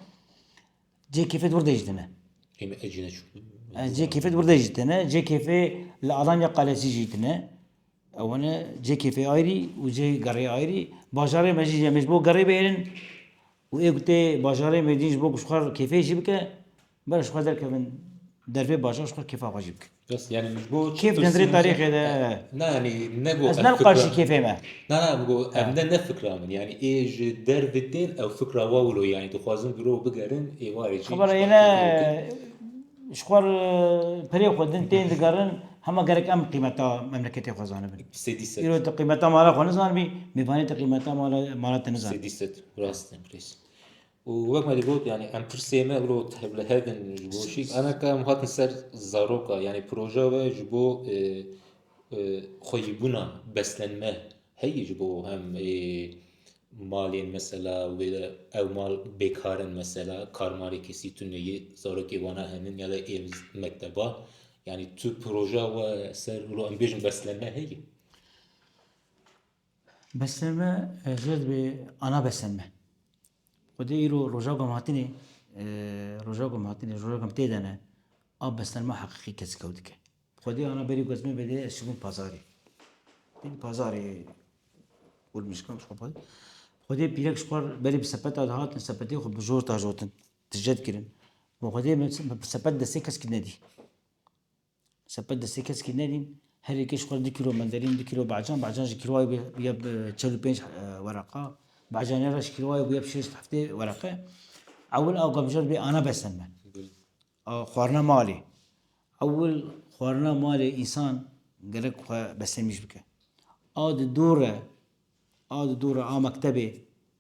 Cê kêfê wir dejî tine. Ême ez jî neçûm. Cê kêfê wir dejî tine. Cê kêfê li Alanya Qalesî jî tine. Ewene cê kêfê ayrî û cê gerê ayrî. Bajarê me jî em ê ji bo gerê bihêlin û ê ku tê bajarê me jî ji bo ku ji xwe kêfê jî bike, bere ji xwe derkevin dervê bajar ji xwe kêfa xwe jî bikin. Kêf nêzirê tarîxê de. Ez ne li qarşî kêfê me. Xebera ye ne ji xwe re pirê xwe din tên digerin hema gerek em qîmeta memleketê xwe zanibin. Îro tu qîmeta mala xwe nizanibî mêvanê tu qîmeta mala te nizanibî. Û wek me digot yanî em tirsê me îro li hev in ji bo şî ana ka em hatin ser zaroka yanî proja we ji bo xweyîbûna beslenme heyî ji bo hem malên mesela wê de ew mal bêkar in mesela karmalê kesî tune yê zarokê wana henin ya da ê li mekteba yanî tu proja we ser îro em bêjin beslenme heyî. Besmê me zêr dibe ana besmê me. Xwedê îro roja ku em hatinê, roja ku em hatinê, roja ku em tê de ne, a besmên me heqîqî kesik ew dike. Xwedê ana berî ku ez me bêdê ez çûbûm pazarê. Dîn pazarê Urmîşkan ji xwe ve. Xwedê pîrek ji xwe re berî bi sepeta dihatin, sepetê xwe bi jor dajotin, tije dikirin. Got Xwedê min bi sepet destê keskî nedî. Sepet destê keskî nedîn. Her yekê ji xwe re du kîlo menderîn, du kîlo becan, becan ji kîlowayê bûye bûye bi çel û pênc wereqa. Becanê re ji kîlowayê bûye bi şêst heftê wereqe. Ewil a gemjar bê ana besên me. A xwarina malê. Ewil xwarina malê însan gerek xwe besemîj bike. A di dû re, a di dû re a mektebê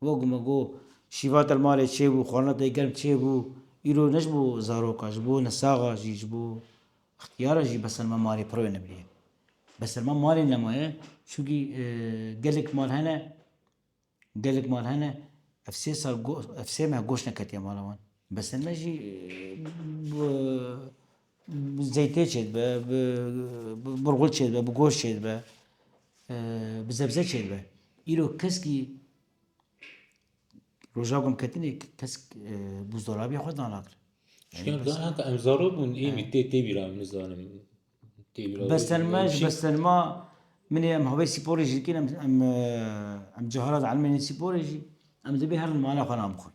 Wek me got, şîva te li malê çêbû, xwarina te germ çêbû, îro ne ji bo zaroka, ji bo nesaxa jî, ji bo ixtiyaran jî beserma malê pir wênebirî ye. Beserma malê nemaye, çunkî gelek mal hene, gelek mal hene ev sê sal ev sê meh goş neketiye mala wan. Beserme jî Bi zeytê çêdibe, bi burxul çêdibe, bi goşt çêdibe, bi zebze çêdibe. Îro keskî roja ku em ketinê kesk buzdolabîya xwe dana kir. Çikî em zana heta em zarok bûn êmî tê tê bîra min nizanim. Bestenma ji bestenma min ê em havê spor jî dikin em em cihara dielmêne spor jî em divê her li mala xwe nan bixwin.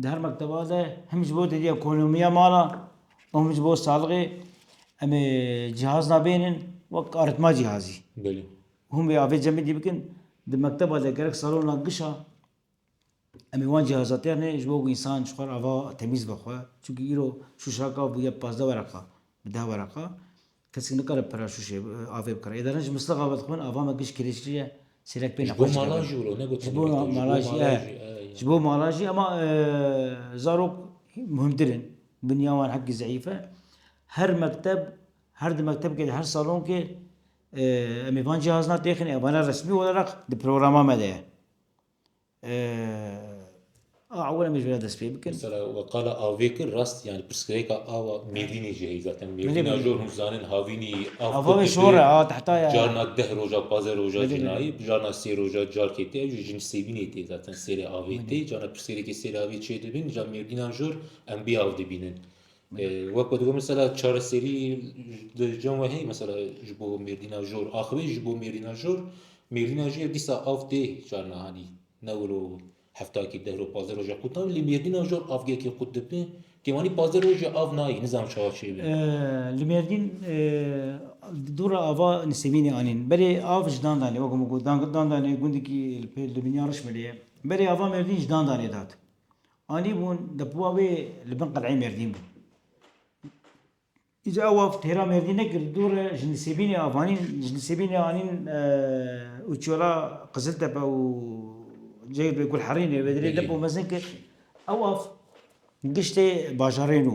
Di her mekteba de him ji bo didî ekonomiya mala û him ji bo salixê em ê cihaz nabênin wek arîtma cihazî. Belê. Hûn vê avê cemidî bikin. Di mekteba de gerek salona gişa em ê wan cihaza têrnê ji bo ku însan ji xwe re ava temîz be xwe. Çunkî îro şûşeka bûye pazdeh wereqa bi deh wereqa. Kesik nikare pira şûşê avê bikire. Êdaren ji mislixa ve dixwin ava me giş kirêçrî ye, sêrek pê nexweş dike. Ji bo mala jî wilo, ne gotin wilo. Ji bo mala jî ye. Ji bo mala jî ema zarok muhimtir in. Binya wan hekî zeîf e. Her mekteb, her di mektebkê de her salonkê em ê van cihazna têxin e. Vana resmî wereq di programa me de ye. A ewil em ê ji vê re dest pê bikin. Mesela we qala avê kir rast yani pirsgirêka awa mêvînê jî heye zaten mêvîna jor hûn zanin havînî av Ava wê şor e a tehta ye. Carna deh roja pazdeh roja jî nayê carna sê roja carkê tê ew jî jin sêvînê tê zaten sêrê avê tê carna pirsgirêkê sêrê avê çêdibin îja mêvîna jor em bêav dibînin Wek digo mesela çareserî li cem we heye mesela ji bo mêrdîna jor axivê ji bo mêrdîna jor mêrdîna jor ya dîsa av tê carna hanî ne wilo heftakî deh roj pazdeh roja qût nabin lê mêrdîna jor avgekê qût dibin kêvanî pazdeh roj jî av nayê nizanim çawa çêbin. Li mêrdîn dûra ava nisêbînê anîn berê av ji dandanê wek min got dandanê gundikî li binyarismilê ye berê ava mêrdîn ji dandanê dat Anîbûn depiwa wê li bin qeleyê Mêrdîn bûn. Îcar ew av têra Mêrdîn nekir, dû re ji Nisêbînê av anîn, ji Nisêbînê anîn û çûyala Qiziltepe û cihê bi Gulherînê vê derê depo mezin kir. Ew av giştê bajarê nû.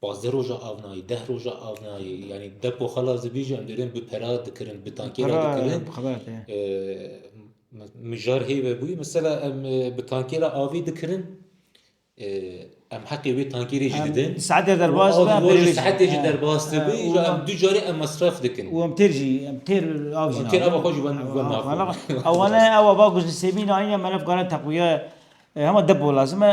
Pazdeh roja av nayê, deh roja av nayê. Yanî depo xelas dibî jî em dêrên bi pera dikirin, bi tankê re dikirin. Mijar hê vebûyî mesela em bi tankê re avî dikirin em heqê wê tankê rê jî didin. Bi saetê derbas be em pêrê wê. Saetê jî derbas dibe îro em du carî em mesref dikin. Û em têr jî em têr av jî. Em têr ava xwe jî wen naxwin. Ew ne ew ava ku ji Sêmî nayîne me ne bikarin teqwîye hema depo lazim e.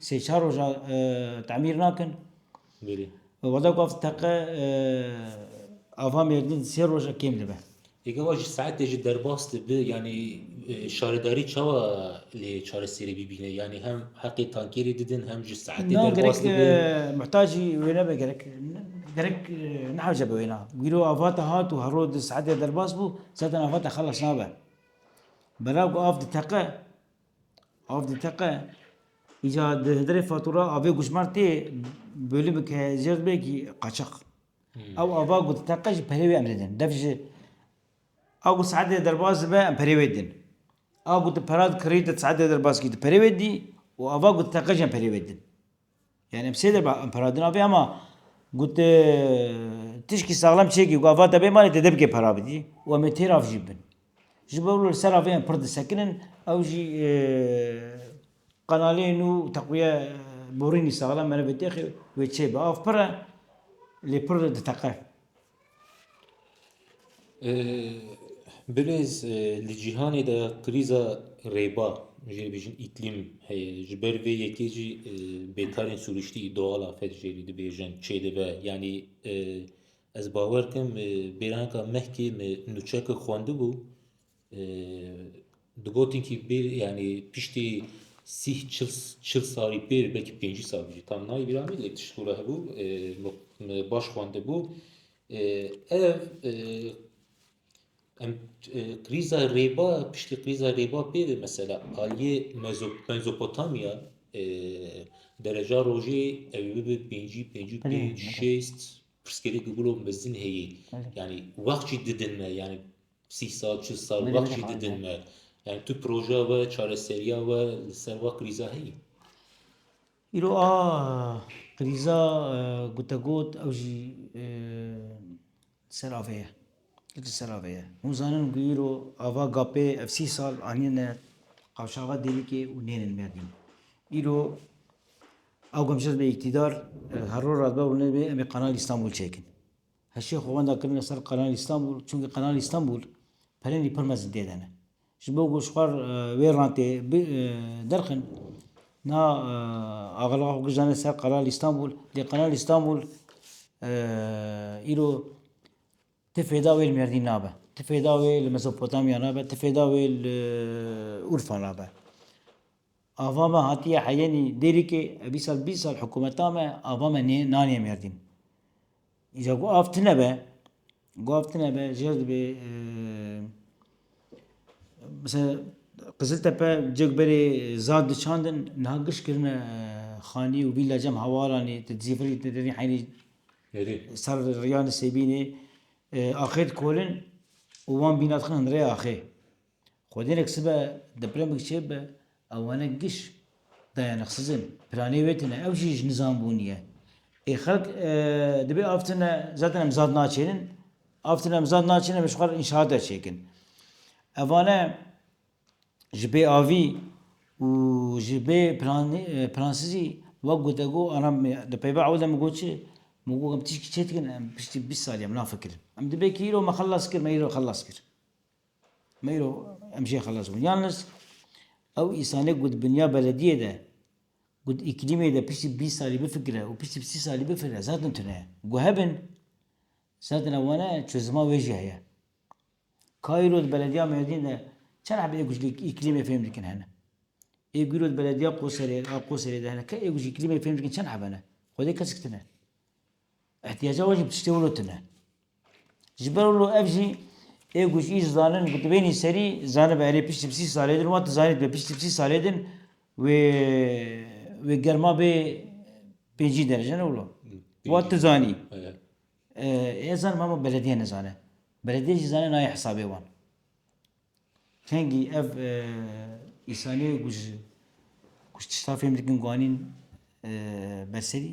Sê çar roja temîr nakin. Bêrî. Wada ku ev teqe ava mêrdin sê roja kêm dibe. Eke wa ji saetê jî derbas dibi yanî şaredarî çawa lê çareserî bibîne yanî hem heqê tankêrî didin hem ji saetê derbas dibi. Muhtacî wê nebe gerek gerek nehewce bi wêna. Wîro ava te hat û hero di saetê derbas bû zaten ava te xelas nabe. Belav ku av diteqe Av diteqe. Îca di hederê fatura avê gucmar tê bölü bi ke jerd bê ki qaçaq. Ew ava ku diteqe ji perê wê em didin. Dev ji a ku saetê derbas dibe em perê wê didin. A ku tu pera dikirî tu saetê derbas kî tu perê wê didî û ava ku diteqe jî em perê wê didin. Yanî em sê der be em para din avê hema ku tu tişkî saxlem çêkî ku ava te bê malê te dê bikê para bidî û em ê têrav jî bin. Ji ber wilo li ser avê em pir disekinin ew jî qenalê nû teqwiye borînî saxlem merivê têxê wê çêbe. Av pir e lê pir diteqe. Bilez li cîhanê de krîza rêba jê dibêjin îklîm heye ji ber vê yekê jî bêkarên sirûştî doğal afet jê lî dibêjin çê dibe yanî ez bawer dikim bêranka mehkê min nûçeyeke xwendibû Di gotinkî bêr yanî piştî sîh çil çil salî pêr belkî pêncî sal bû jî tam nayê bîra min lê tişt ku re hebû me baş xwendibû. Ev em krîza rêba piştî krîza rêba pê ve mesela aliyê mezo mezopotamya dereca rojê ew ê bibe pêncî pêncî û pênc şêst pirsgirêk bibiro mezin heye yanî wext jî didin me yanî Sî sal, çil sal wext jî didin me. Yani tu projeya we, çareseriya we li ser wa krîza heye? Îro a krîza gotegot ew jî li ser avê ye. Li ser avê ye. Hûn zanin ku îro ava gapê ev sî sal anîne qavşaxa dêrikê û nênin merdîn. Îro ew gemşer be îktîdar, her roj re dibe û nedibe em ê Kanal Îstanbul çêkin. Heşê xwe wenda kirine ser Qanal Îstanbul çunkî Qanal Îstanbul pelenî pir mezin tê de ne. Ji bo ku ji xwar wê rantê derxin na agirva xwe gijane ser Qanal Îstanbul lê Qanal Îstanbul îro ti fêda wê li Mêrdîn nabe, ti fêda wê li Mezopotamya nabe, ti fêda wê li Urfa nabe. Ava me hatiye heyenî Dêrikê, ev îsal bîst sal hikûmeta me, ava me nê nanê mêrdîn. Îca ku av tune be, ku av tune be jêr dibê misal Qiziltepe cih berê zad diçandin niha giş kirine xanî û vîla cem hewalanê ti Dizîfirî ti Derî Heynî ser rêya Nisêbînê axê dikolin û wan bîna dixin hin rê axê. Xwedînek sibe depremik çêbibe awanek giş dayanek sizin piranê wê tine ew jî ji nizam bûniye. Ê xelk dibê av tine zaten em zad naçênin av tine em zad naçênin em ji xwe re înşaat derçêkin. Evane ji bê avî û ji bê piransizî wek gotegot ana di peyva ew de min got çi min got em tişkî çêdikin em piştî bîst salî em nafikirin. Em dibê kî îro me xelas kir me îro xelas kir. Meyro em jê xelas bûn. Yalnız ew îsanê ku di binya belediyê de ku di îklîmê de piştî bîst salî bifikire û piştî sî salî bifikire zaten tune ye. Ku hebin zaten ew wane çozima wê jî heye. Ka îro di belediya Mêrdîn de çend hebî ê ku ji îklîmê fêm dikin hene? Ê ku îro di belediya Qoserê a Qoserê de hene ê ku ji îklîmê fêm dikin çend heb hene? Xwedê kesik tune. Îhtîyaca wan jî bi tiştê wilo tune. Ji ber wilo ev jî ê ku ji î ji zanin ku tu bênî serî zanibe erê piştî sî salê din wan tu zanî dibe piştî sî salê din wê wê germa bê pêncî derece ne wilo wan tu zanî. Ez zanim hema belediye nizane. Belediye jî zane nayê hesabê wan. Hingî ev îsanî ku ji ku ji tişta fêm dikin ku anîn berserî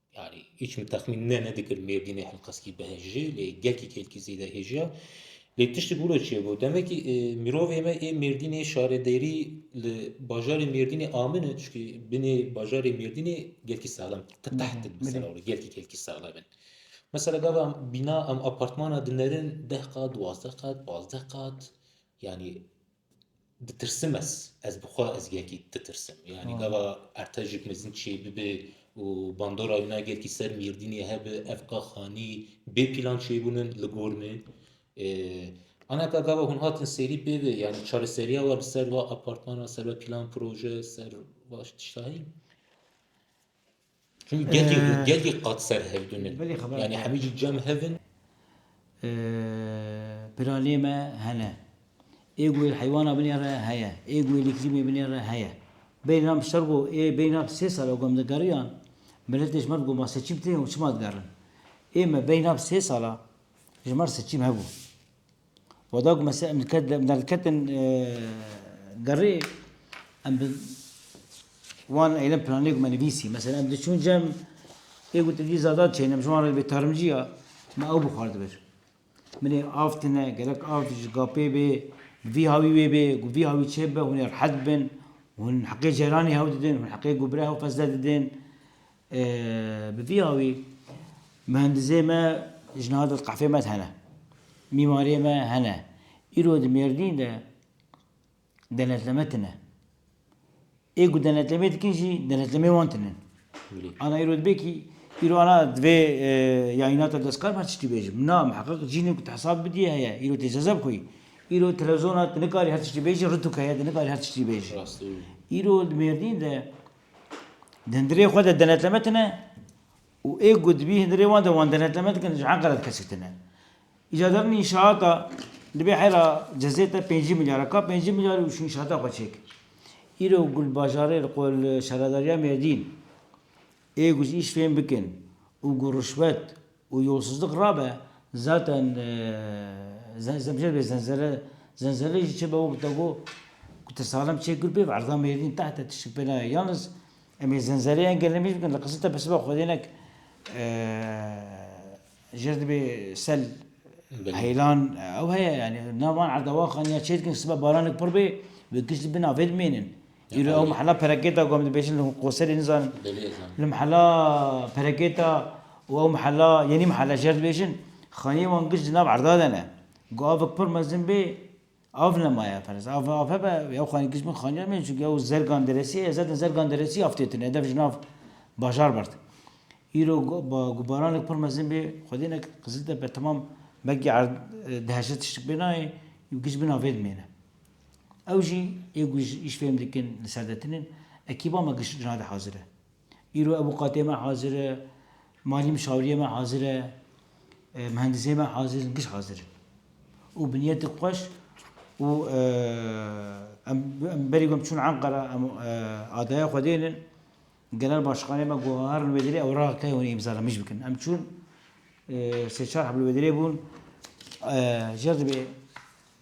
Yanî hîç min texmîn ne nedikir Mêrdînê helqeskî bihejî lê gelkî kêlkî zêde hêjiya. Lê tiştî bûro çê bû. Demekî e, mirovê me ê Mêrdînê şaredêrî li bajarê Mêrdînê amin e çikî binê bajarê Mêrdînê gelkî sexlem qiteht in mesela were gelkî kelkî sexlem in. Mesela gava em bîna em apartmana dinerin deh qat, duwazdeh qat, pazdeh qat yanî Ditirsim ez, ez bi xwe ez gelkî ditirsim. Yanî gava ertejik mezin çê bibe û bandora wina gelkî ser Mîrdînê hebe ev ka xanî bê pîlan çêbûnin li gor me. Ana ka gava hûn hatin serî pê ve yanî çareseriya we li ser va apartmana, ser va pîlan proje, ser va tişta heye? Çun gelî gelî qat ser hev din in. Belê xebat. Yani hemî jî cem hev in. Piralê me hene. Ê guhê heywana binê re heye. Ê guhê lîkrîmê binê re heye. Beyna bi ser go ê beyna bi sê sala gom digeriyan miletê ji mer goma seçîm tê û çima digerin. Ê me beyna bi sê sala ji mer seçîm hebû. Wada ku me derdiketin derê em bi wan eylem planê ku me nivîsî mesela em diçûn cem ê ku te dî zada diçêne em ji wan re vê tarimcî ya me ew bixwardi vir. Min ê av tine gerek av ji gapê bê vî hawî wê bê ku vî hawî çê bibe hûn ê rehet bibin, hûn heqê ceyranê hev didin, hûn heqê gobira hew qezde didin. Bi vî awî muhendizê me ji niha dest qefê me hene, mîmarê me hene. Îro di Mêrdîn de denetleme tine. Ê ku denetlemê dikin jî denetlemê wan tinin. Ana îro dibe kî îro ana di vê yayîna te dest kar me tiştî bêjim. Na miheqeq cînê ku tu hesab bidîyê heye. Îro tê cezeb xwî. Îro televizona tu nikarî her tiştî bêjî, rûtûk heye tu nikarî her tiştî bêjî. Îro di Mêrdîn de. Dindirê xwe de denetleme tine û ê ku dibî hindirê wan de wan denetleme dikin ji Enqere dikesî tine. Îca derûnê înşaata dibê heyra cezê te pêncî milyar e. Ka pêncî milyarî û şu înşaata xwe çêkir. Îro Gulbajarê li qwe li Şaredariya Mêrdîn ê ku ji îş fêm bikin û ku rişwet û yolsizlik rabe zaten zemşer bê zenzere zenzere jî çêbe wek te got ku te salem çêk kir pêv erda mêrdîn tehte tiştik pê nayê yalnız em ê zenzereyê yên gelê mêj bikin li Qiziltepe sibe xwedênek jer dibê sel heylan ew heye yanî nav wan erda wan xaniya çêdikin sibe baranek pir bê wê kişt li bin avê dimênin. Îro ew mehela perekêta ku em dibêjin li Qoserê nizanim li mehela perekêta û ew mehela yenî mehela jê dibêjin xaniyê wan giş di nav erda de ne. Ku avik pir mezin bê av nemaye ferzan av av hebe ew xanî giş bin xaniyan bên çunke ew zergan deresî ye zaten zergan deresî av tê tune hedev ji nav bajar bert. Îro ku baranik pir mezin bê xwedê ne Qiziltepe temam belkî erd di heşê tiştik pê nayê giş bin avê dimêne. Ew jî yê ku îş fêm dikin li ser de tinin, ekîba me giş jinadê hazir e. Îro ewokatê me hazir e, malî muşawiriyê me hazir e, mihendisê me hazir in, giş hazir in. Û bi niyetik xweş û em berî ku em çûn Enqera em adaya xwe dênin, genel başxanê me ku herin li Wêdirê ew ra key hûn ê îmza li mij bikin. Em çûn sê çar heb li Wêdirê bûn, jêr dibê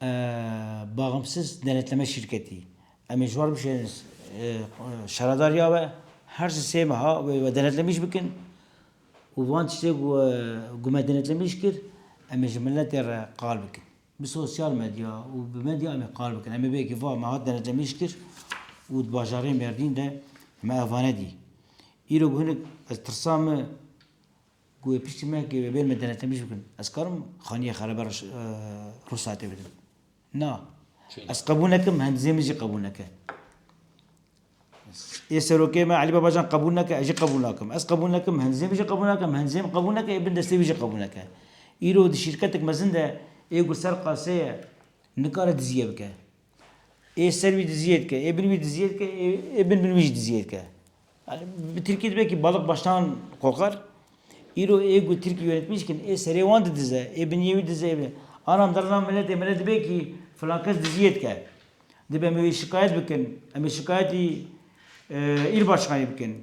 A Baxımsız Denetleme Şirketi, em ê ji war bişêrin şaredariya we, her si sê meha wê we denetlemîş bikin û van tiştê ku we ku me denetlemîş kir em ê ji miletê re qal bikin. Bi sosyal medya û bi medya em ê qal bikin. Em ê bêkî va me hat denetlemîş kir û di bajarê Mêrdîn de me ev vane dî. Îro ku hinek ez tirsa me Ku wê piştî me kê wê bê min denetim ji bikin. Ez karim xaniyê xerebe re ruhsatê bidim. Na. Ez qebûl nekim, hendizê min jî qebûl neke. Ê serokê me Elî Babacan qebûl neke, ez jî qebûl nakim. Ez qebûl nekim, hendizê min jî qebûl nakim, hendizê min qebûl neke, ê bin destê wî jî qebûl neke. Îro di şîrketek mezin de ê ku ser qaseye nikare dizîye bike. Ê ser wî diziyê dike, ê bin wî diziyê dike, ê bin bin wî jî diziyê dike. Yani bi Tirkî dibe ki balık baştan kokar. Îro ê ku Tirkî yönetmîş kin ê serê wan didize, ê biniyê wî didize, ê biniyê. Anan derna miletê mele dibe ki filan kes diziyê dike. Dibe em wê şikayet bikin, em ê şikayetî îlbaşkanê bikin.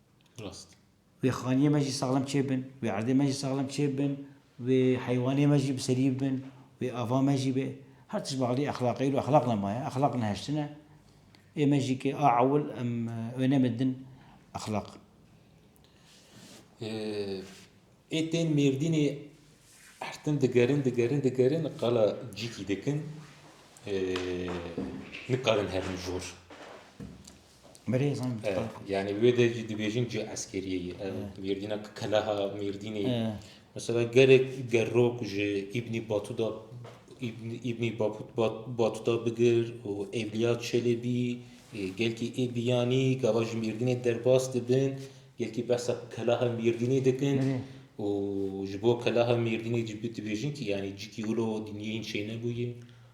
Rast. Wê xaniyê me jî saxlem çê bin, wê erdê me jî saxlem çê bin, wê heywanê me jî bi serî bin, wê ava me jî be. Her tişt bi alî exlaqê îro exlaq nemaye, exlaq neheştine. Ê me jî ke a ewil em wêneme din exlaq. Ê tên Mêrdînê her tim digerin, digerin, digerin qala cîkî dikin, nikarin herin jor. Yani wê de jî dibêjin cê eskeriyê ye. Mêrdîna ki keleha Mêrdînê ye. Mesela gelek gerok ji Îbnî Batuda Îbnî Batuda bigir û Evliya Çelebî gelkî ê biyanî gava ji Mêrdînê derbas dibin gelkî behsa keleha Mêrdînê dikin û ji bo keleha Mêrdînê jî dibêjin kî yanî cikî wilo dîniyê hîn çênebûye.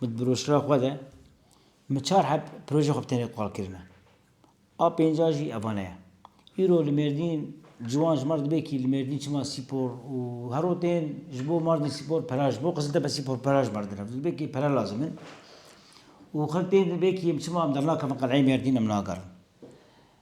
Min di broşura xwe de min çar heb projeyê xwe bi tenê qal kirine. A pênca jî evane ye. Îro li Mêrdîn ciwan ji mar dibe kî li Mêrdîn çima spor û hero tên ji bo Mardin spor pera ji bo Qiziltepe spor pera ji mar dire. Dibe kî pere lazim in û xelk tên dibe kî em çima em dernakevin qeleyê Mêrdîn em nagerin.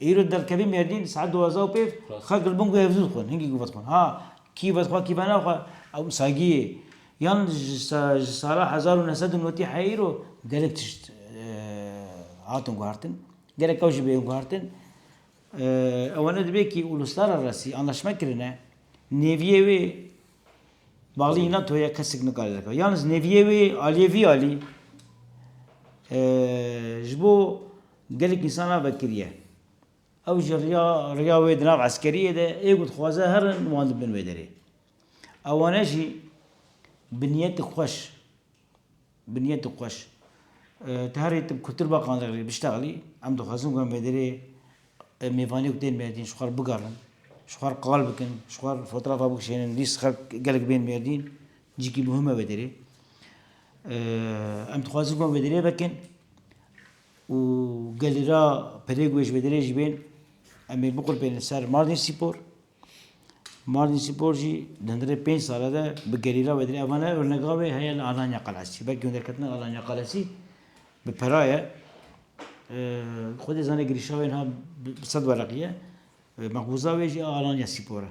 Îro derkevî mêrdîn di saet duwazdeh û pêv, xelk li bin ku hevzû dixwin, hingî ku vedixwin ha kî vedixwe kî venaxwe ew sagî yê. Yan ji sala hezar û neh sed û notî heye îro gelek tişt hatin guhertin, gerek ew jî bê guhertin. Ewene dibe kî Uluslara Resî anlaşme kirine, nêviyê wê balî NATO ye kesek nikare derkeve. Yan ji nêviyê wê aliyê vî alî ji bo Gelek însan a vekiriye. Ew ji riya riya wê di nav eskeriyê de ê ku dixwaze herin wan dibin wê derê. Ewane jî bi niyetik xweş bi niyetik xweş ti herî ti ku tir baqandiq rê biştexlî em dixwazin ku em wê derê mêvanê ku tên mêrdîn ji xwe re bigerin, ji xwe re qal bikin, ji xwe re fotografa bikişênin lîst xelk gelek bên mêrdîn cîkî muhim e wê derê. Em dixwazin ku em wê derê vekin Û gelê ra pelêk wê ji vê derê jî bên em ê biqulpênin ser Mardin Spor. Mardin Spor jî di hundirê pênc sale de bi gelê ra wê derê ev ne örnega wê heye li Alanya Qalesî. Belkî hundirketina Alanya Qalesî bi pera ye. Xwedê zane girîşa wê niha bi sed wereqî ye. Mexbûza wê jî a Alanya Spor e.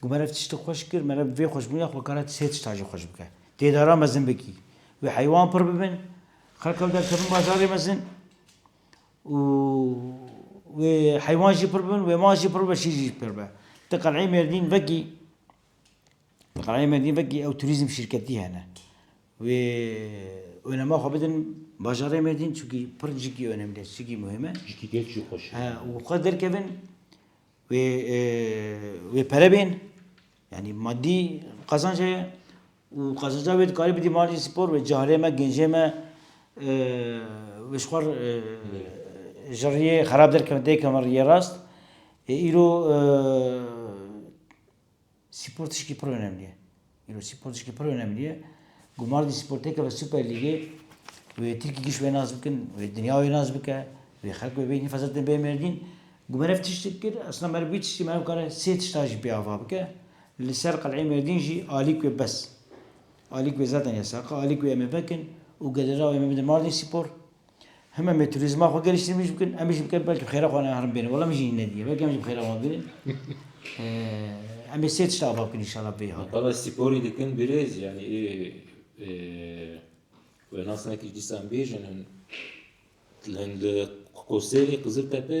Ku me rev tiştî xweş kir, me rev vê xweş bûna xwe kare sê tiştan jî xweş bike. Dê daran mezin bikî. Wê heywan pir bibin, xelk ew derkevin bazarê mezin û wê heywan jî pir bibin, wê mal jî pir bibe, şîr jî pir bibe. Ti qeleyê Mêrdîn vekî, ti qeleyê Mêrdîn vekî ew turîzm şîrketî hene. Wê onema xwe bidin bajarê Mêrdîn çunkî pir cikî onemlê, cikî muhîme. Cikî geç jî xweş e. He û xwe derkevin. Wê wê pere bên. Yanî madî qezanc heye û qezanca wê dikarî bidî malê spor wê carê me gêncê me wê ji xwe ji riyê xerab derkevin têkevin riyê rast. Îro Spor tişkî pir onemlî ye. Îro spor tişkî pir onemlî ye. Gumar dî spor têkeve Super Lîgê wê Tirkî giş wê nas bikin, wê dinya wê nas bike, wê xelk wê bêjin fezil din bê Mêrdîn. Gumar ev tiştî kir, esna meriv wî tiştî meriv kare sê tişta jî pê ava bike. Li ser qeleyê Mêrdîn jî alîk wê bes. Alîk wê zaten yesaq e, alîk wê em ê vekin û gelira wê em ê bidin Mardin Spor. Heme metrûzma xwe gelî şîr bikin, em jî bikin belkî xêra xwe herin bêne. Wala min jî ne diye. Belkî em jî bi xêra wan bêne. Em ê sê tişta ava bikin inşallah pê hat. Qala spor dikin birêz yani ê we nas nekir dîsan bêjin hin. Hin li Qoserê Qiziltepe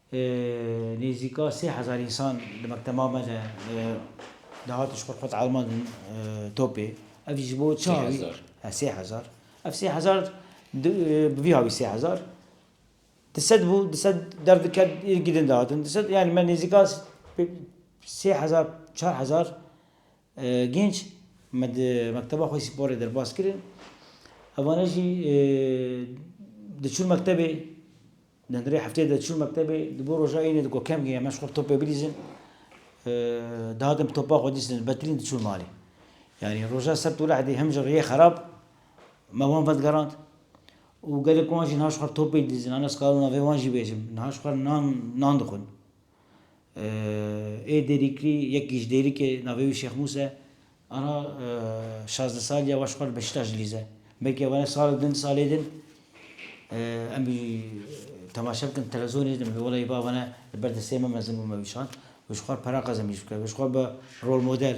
Nêzîka sê hezar însan li mekteba me de dihatin ji xwe xwet arma din topê. Ev jî ji bo çi havî? Sê hezar. He sê hezar. Ev sê hezar di bi vî havî sê hezar di sed bû, di sed derdiket îrikî din dihatin. Di sed yanî me nêzîka sê hezar çar hezar gênc me di mekteba xwe spor ê derbas kirin. Evane jî diçûn mektebê. Nandorê hefteyê de çû mektebê, di bo roja ênê de ku kem giya me ji xwe bi topê bilîzin, dihatin bi topa xwe dîstin, betilîn diçûn malê. Yanî roja sebt û lehdê him ji riyê xerab me wan vedigerand û gelek wan jî niha ji xwe bi topê didîzin. Anas Karûna vê wan jî bêjim, niha ji xwe nan dixwin. Ê Dêrîklî yek gîcdêrik e, navê wî Şêx Mûs e. Ana şazdeh salî ya waş xwe li Beşîtaş dilîze. Belkî ew ne sal din, salê din em wî temaşe bikin li televîzyonê din bibê welay bava ne li ber destê me mezin bû me wî şand. Wê ji xwe re peraxez em îş bike. Wê ji xwe re bibe rolmodel.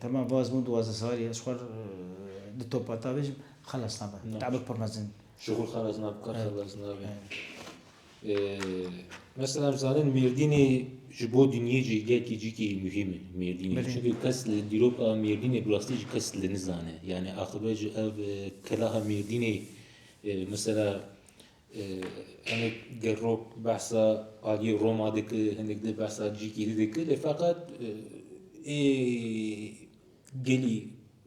Temam vaz bûn duwazdeh salî ez xwe di topa tavê jî xelas nabe. Tevil pir mezin. Ji xwe xelas nabe qet xelas nabe. Mesela em zanin Mêrdînê ji bo dinyê cîgeh cîkî muhîm e Mêrdînê. Çunke kes li dîroka Mêrdînê bi rastî jî kes li nizane. Yanî axibe jî ev keleha Mêrdînê mesela Em ê gel rok behsa aliyê Roma dikir, hinek di behsa cîkî dî dikir. Lê feqet ê gelî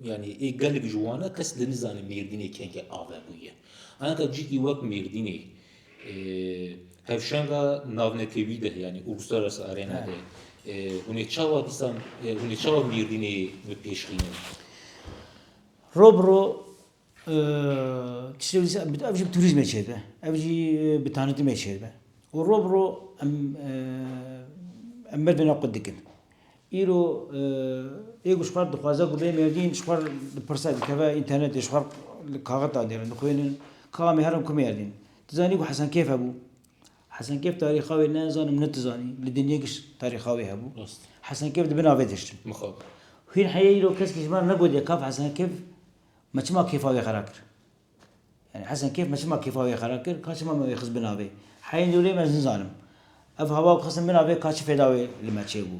yani ê gelek ji wan e kes li nizane Mêrdînê kengê ave bûye. Anka cîkî wek Mêrdînê hevşenga navnetewî de yani Uluslararası Arena de hûnê çawa dîsan hûnê çawa Mêrdînê bi pêşxînin? Ro bi ro Tiştê wisa em ev jî bi turîzmê çêdibe, ev jî bi tanîtimê çêdibe û roj bi roj em em merdê ne qut dikin. Îro ê ku ji xwe re dixwaze ku bê mêrdîn ji xwe re dipirse dikeve înternetê ji xwe re li kaxit da dêrin dixwînin ka em ê herin ku mêrdîn. Ti zanî ku Hesenkêf hebû. Hesenkêf tarîxa wê ne ez zanim ne ti zanî. Li dinyê giş tarîxa wê hebû. Hesenkêf di bin avê dihiştin. Hîn heye îro kesk ji me re negotiye kaf Hesenkêf Me çima kêfa wê xera kir? Yanî Hesen Kêf me çima kêfa wê xera kir, ka çima me wê xist bin avê? Heyên dûrê me nizanim. Ev hava ku xistin bin avê ka çi fêda wê li me çêbû.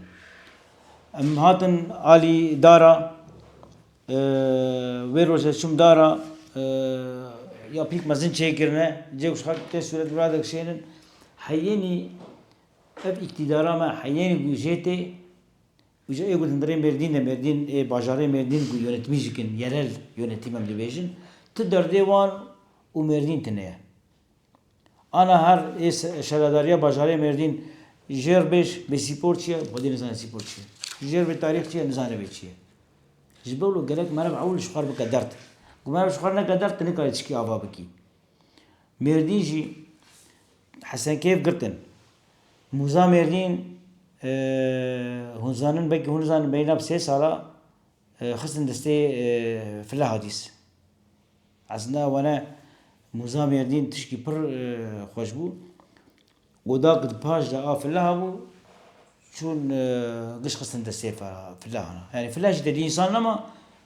Em hatin alî dara, wê rojê çûm dara ya pîk mezin çêkirine, cê ku ji xelk tê sûret wira dikişênin. Heyênî ev îktîdara me heyênî ku jê tê Îja ê ku hundirê Mêrdîn de Mêrdîn ê bajarê Mêrdîn ku yonetbî jî kin yerel yonetîm em dibêjin ti derdê wan û Mêrdîn tine ye. Ana her ê şaredariya bajarê Mêrdîn jêr bêj bê sîpor çi ye xwedî nizane sîpor çi ye. Jêr bê tarîx çi ye nizane vê çi ye. Ji ber wilo gelek meriv ewil ji xwe re bike derd. Ku meriv ji xwe re neke derd ti nikarî tişkî ava bikî. Mêrdîn jî Hesenkeyf girtin. Mûza Mêrdîn hûn zanin belkî hûn nizanin bêyna bi sê sala xistin destê File Hadîs. Eslinda wene Mûza Mêrdîn tişkî pir xweş bû. Oda ku di paş de a File hebû çûn giş xistin destê Filehan. Yanî File jî tedî însan nema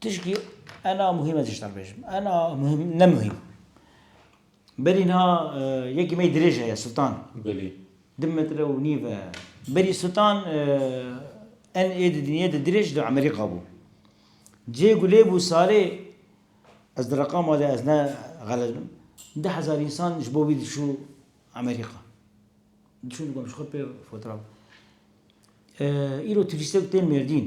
Tişkî ena muhîm ez jî bêjim. Ena muhîm ne muhîm. Berî niha yekî me dirêj heye Sultan. Belê. Di metre û nîv e. Berî Sultan en ê di dinyê de dirêj di Emerîka bû. Cê ku lê bû salê ez di reqama de ez ne xelet bim du hezar însan ji bo wî diçû Emerîka. Diçûn digotin ji xwe pê fotoğraf. Îro turîstek tên mêrdîn.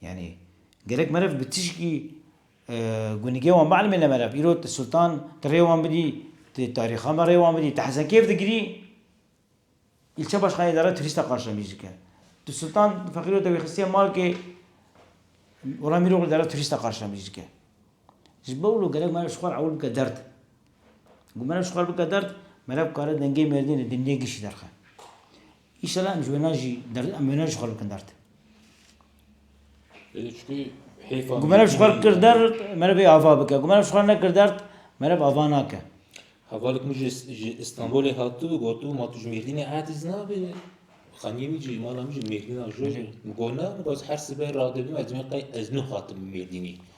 Yanî gelek meriv bi tişkî gunigê wan bielmê ne meriv. Îro ti sultan ti rê wan bidî, ti tarîxa me rê wan bidî, ti hesenkêf digirî, îlçe başxaneyê de re turîst de qarşemîj dike. Ti sultan feqîro te wî xistiye malkê, wela Mîroglî de re turîst de qarşemîj dike. Ji bo wilo gelek meriv ji xwe re ewil bike derd. Ku meriv ji xwe re bike derd, meriv kare dengê mêrdînê di nêgişî derxe. Înşela em ji wê ne jî derdin em wê ne ji xwe bikin derd. Êdî çikî hêfa. Ku meriv ji xwe kir derd merivê ava bike. Ku meriv ji xwe nekir derd meriv ava nake. Hevalek min ji Îstanbulê hatibû gotibû ma tu ji Mêrdînê eciz nabî. Xaniyê min jî mala min jî Mêrdîna jû. Min got na min got her sibe radibim ez dibim qey ez nû hatim Mêrdînê.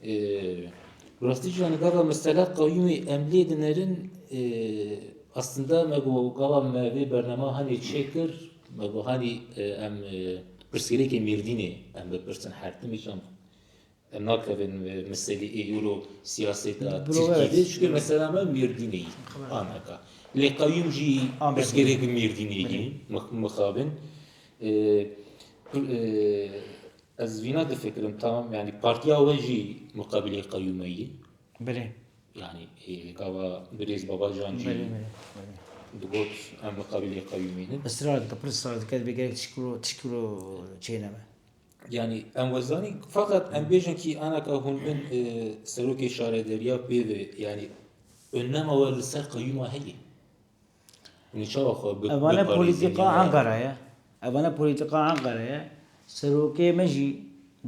Bi rastî jî gava mestela qeyûmê em lê dinerin aslında me got gava me vê bernama hanê çêkir me got hanê em pirsgirêkê Mêrdînê em bipirsin her timî çem em nakevin meselê ê euro siyaseta Tirkîyê çikê mesela me Mêrdînê yî anaka. Lê qeyûm jî pirsgirêkê Mêrdînê yî mixabin. Ez vîna difikirim tamam yanî partiya we jî muqebilê qeyûme yî. Belê. Yanî hêvî gava birêz Babacan jî digot em muqebilê qeyûmê ne. Israr dike, pir israr dike divê gerek tişkilo tişkilo çêneme. Yani em wezanî fakat em bêjin kî anaka hûn bin e, serokê şarederiya pê ve yani önema we li ser qeyûma heye. Evane polîtîka Enqere ye. Evane polîtîka Enqere ye. Serokê me jî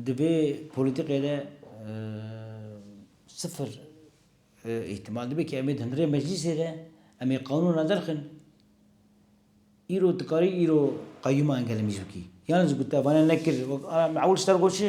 di vê polîtîkê de sifir îhtîmal dibe ku em ê di hundirê meclîsê de em ê qanûna derxin. Îro tu karî îro qeyûma Engel Mîzûkî yan ji ku te evane nekir wek ewil ji te re got çi?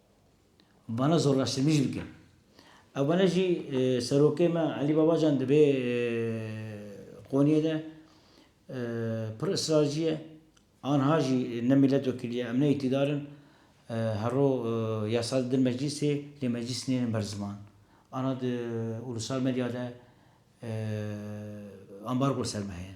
Bana zorlaştırmî jî bike. Ew bana jî serokê me Elî Babacan dibê qoniyê de pir israrcî ye. Anha jî ne mîletwekîlî ye, em ne îktîdar in. Her ro yasa didin meclîsê lê meclîs nênin ber ziman. Ana di ulusal medya de ambargo li ser me heye.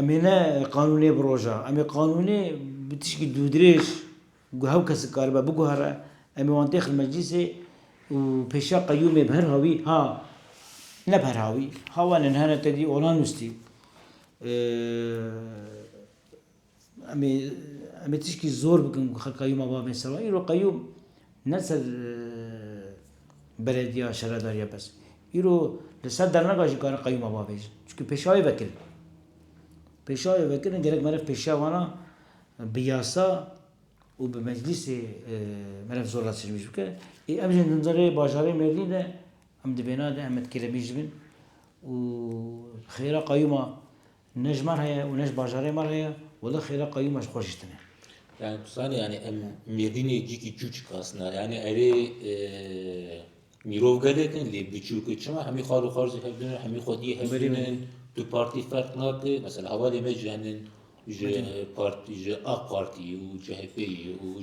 Em ê ne qanûnê bi roja, em ê qanûnê bi tişkî dûdirêj ku hew kes dikaribe biguhere, em ê wan têxin meclîsê û pêşiya qeyûmê bi her hawî, ha ne bi her hawî, ha wan ên hene tedî ola nûstî. Em ê em ê tişkî zor bikin ku xelka Yûma bavên ser wan. Îro qeyûm ne ser belediya şaredarî ye bes. Îro li ser dernaga jî karin qeyûma bavêjin. Çimkî pêşawê vekirin. Pêşawê vekirin gerek meriv pêşiya wan a bi yasa û bi meclîsê meriv zor re tiştbîj bike. Ê em jî dimzane rê bajarê mêrdîn de em di bêna de Emed Kêlemî jî bin û xêra qeyûma Ne ji me re ye û ne ji bajarê me re ye. Wele xêra qeyûma ji xwe jîştine. Yani tu zanî yani em mêrdînê cîkî çû çikasna. Yani erê mîrov gelek in lê biçûk in. Çima hemî xal û xal jî hev dûnin, hemî xwediyê hev dûnin. Tu partî ferq nake. Mesela hevalê me jî henin ji ji AK Partî û CHPyê û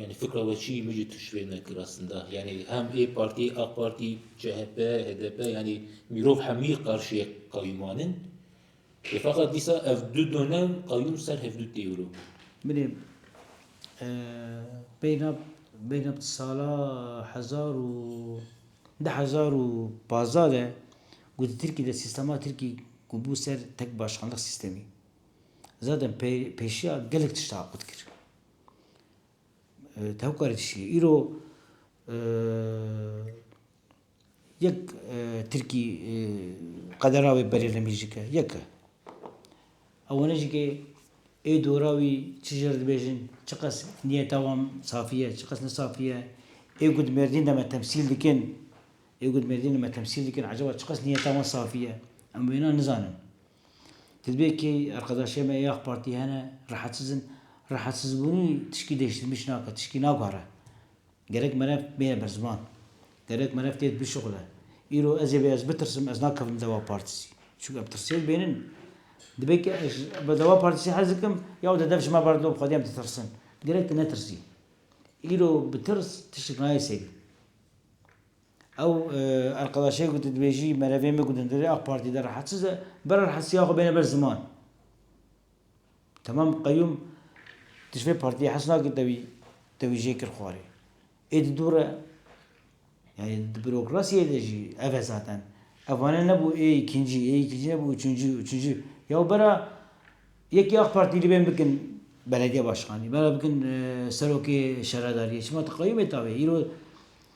Yanî fikra we çi min jî tişrê nekir aslında. Yanî hem ê partî, AK Partî, CHP, HDP yanî mîrov hemî qarşiyê qeyûman in. Ê feqet dîsa ev du donem qeyûm ser hev du têwilo. Bilê beyna beyna sala hezar û di hezar û pazdeh de ku di Tirkî de sîstema Tirkî ku bû ser tek başkanlik sîstemî zaten pê pêşiya gelek tişta qut kir. Tevkarî çi ye? Îro yek tirkî qedera wê berê li min jî ke yek e. Ewwene jî ke ê dora wî çi ji re dibêjin çi qas niyeta wan safî ye çi qas ne safî ye. Ê ku di mêrdîn de me temsîl dikin, ê ku di mêrdîn de me temsîl dikin ecaba çi qas niyeta wan safî ye? Em wêna nizanin. Hizbê key erqedaşê me yê Ak Partî hene rahatsiz in. Rahatsizbûnî tişkî dêştirmîş nake, tişkî nagare. Gerek merev bêne ber ziman. Gerek merev têd bişuxile. Îro ez ê be ez bitirsim, ez nakevim li Deva Partîsî. Çunke ev tirsê li bênin. Dibe ke ez bi Deva Partîsî hez dikim, ya wede dev ji me berdin û bi xwedî em ditirsin. Gerek tu netirsî. Îro bi tirs tiştek nayê serî. Ew erqedaşê ku tu dibêjî merevê min ku di ndirê ak Partî de rehetsiz e, bira rehetsiya xwe bêne ber ziman. Temam qeyûm tu ji vê Partiyê hez nakî te wî te wî jê kir xwarê. Ê di dûr e. Yanî di bürokrasiyê de jî ev e zaten. Ev wane nebû ê îkincî, ê îkincî nebû üçüncî, üçüncî. Yaw bira yekî ak Partî li bên bikin belediye başkanî, bira bikin serokê şaredariyê. Çima tu qeyûm ê tavê. Îro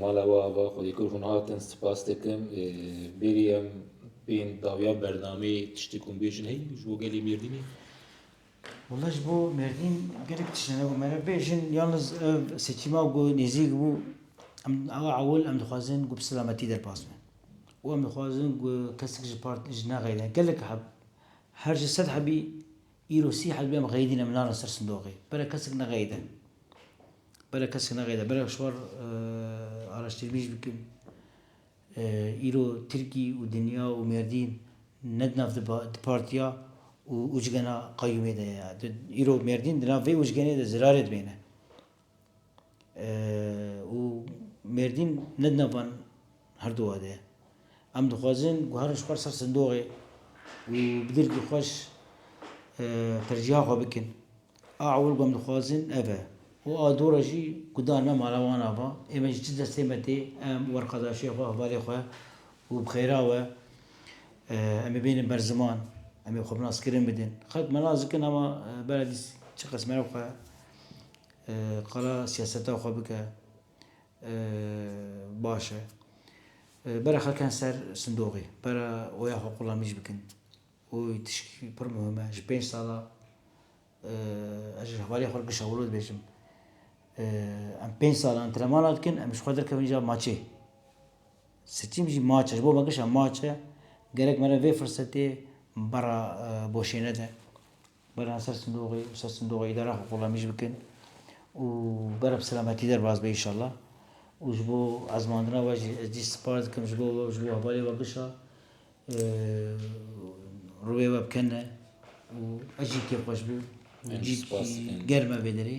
Mala we ava Xwedî kir hûn hatin spas dikim. Bêrî em bên dawiya bernameyê tiştê ku hûn bêjin heyî ji bo gelê Mêrdînê? Wela ji bo Mêrdîn gelek tişt hene ku me re bêjin yalnîz ev seçîma ku nêzîk bû em awa ewil em dixwazin ku bi selametî derpas bin û em dixwazin ku kesek ji partî ji neqeyde gelek heb her ji sed hebî îro sî hezbî em qeydîn em narin ser sindoqê bere kesek neqeyde. Bere kesk neqede, bere şwar araştîrmîj bikim. Îro Tirkî û dinya û Mêrdîn ne di nav di partiya û ucgena qeyûmê de ye. Îro Mêrdîn di nav vê ucgenê de zirarê dibêne. Û Mêrdîn ne di nav van herduwa de ye. Em dixwazin guherin ji xwe li ser sindoxê û bi dirkî xweş tercîha xwe bikin. A ewil ku em dixwazin ev e û a dû re jî ku dan me mala wan ava ême ji çi destê me tê em werqedaşiyê xwe, hevalê xwe û bi xêra we em ê bênin ber ziman, em ê xwe bi naskirin bidin. Xelk me nas dikin hema beledî çi qas meriv xwe qala siyaseta xwe bike baş e. Bera xelkan ser sindoxê, bera oya xwe qulamîj bikin. û tiştî pir muhim e, ji pênc sal a ez ji hevaliyê xwe re gişewilo dibêjim. Em pênc sal antrenmana dikin, em ji xwe derkevin îcar maçê. Sitîm jî maç e, ji bo me gişa maç e. Gerek me re vê firsetê berra boşê nede. Beriyan ser sindoqê û ser sindoqa îdara xwe xulamîş bikin û bera bi selametî derbas be înşallah û ji bo ezmandina we jî ez dîst spas dikim ji bo we û ji bo hevalê we bişa rûyê we bi ken e û ez jî kêfxweş bim û cî germ e vê derê.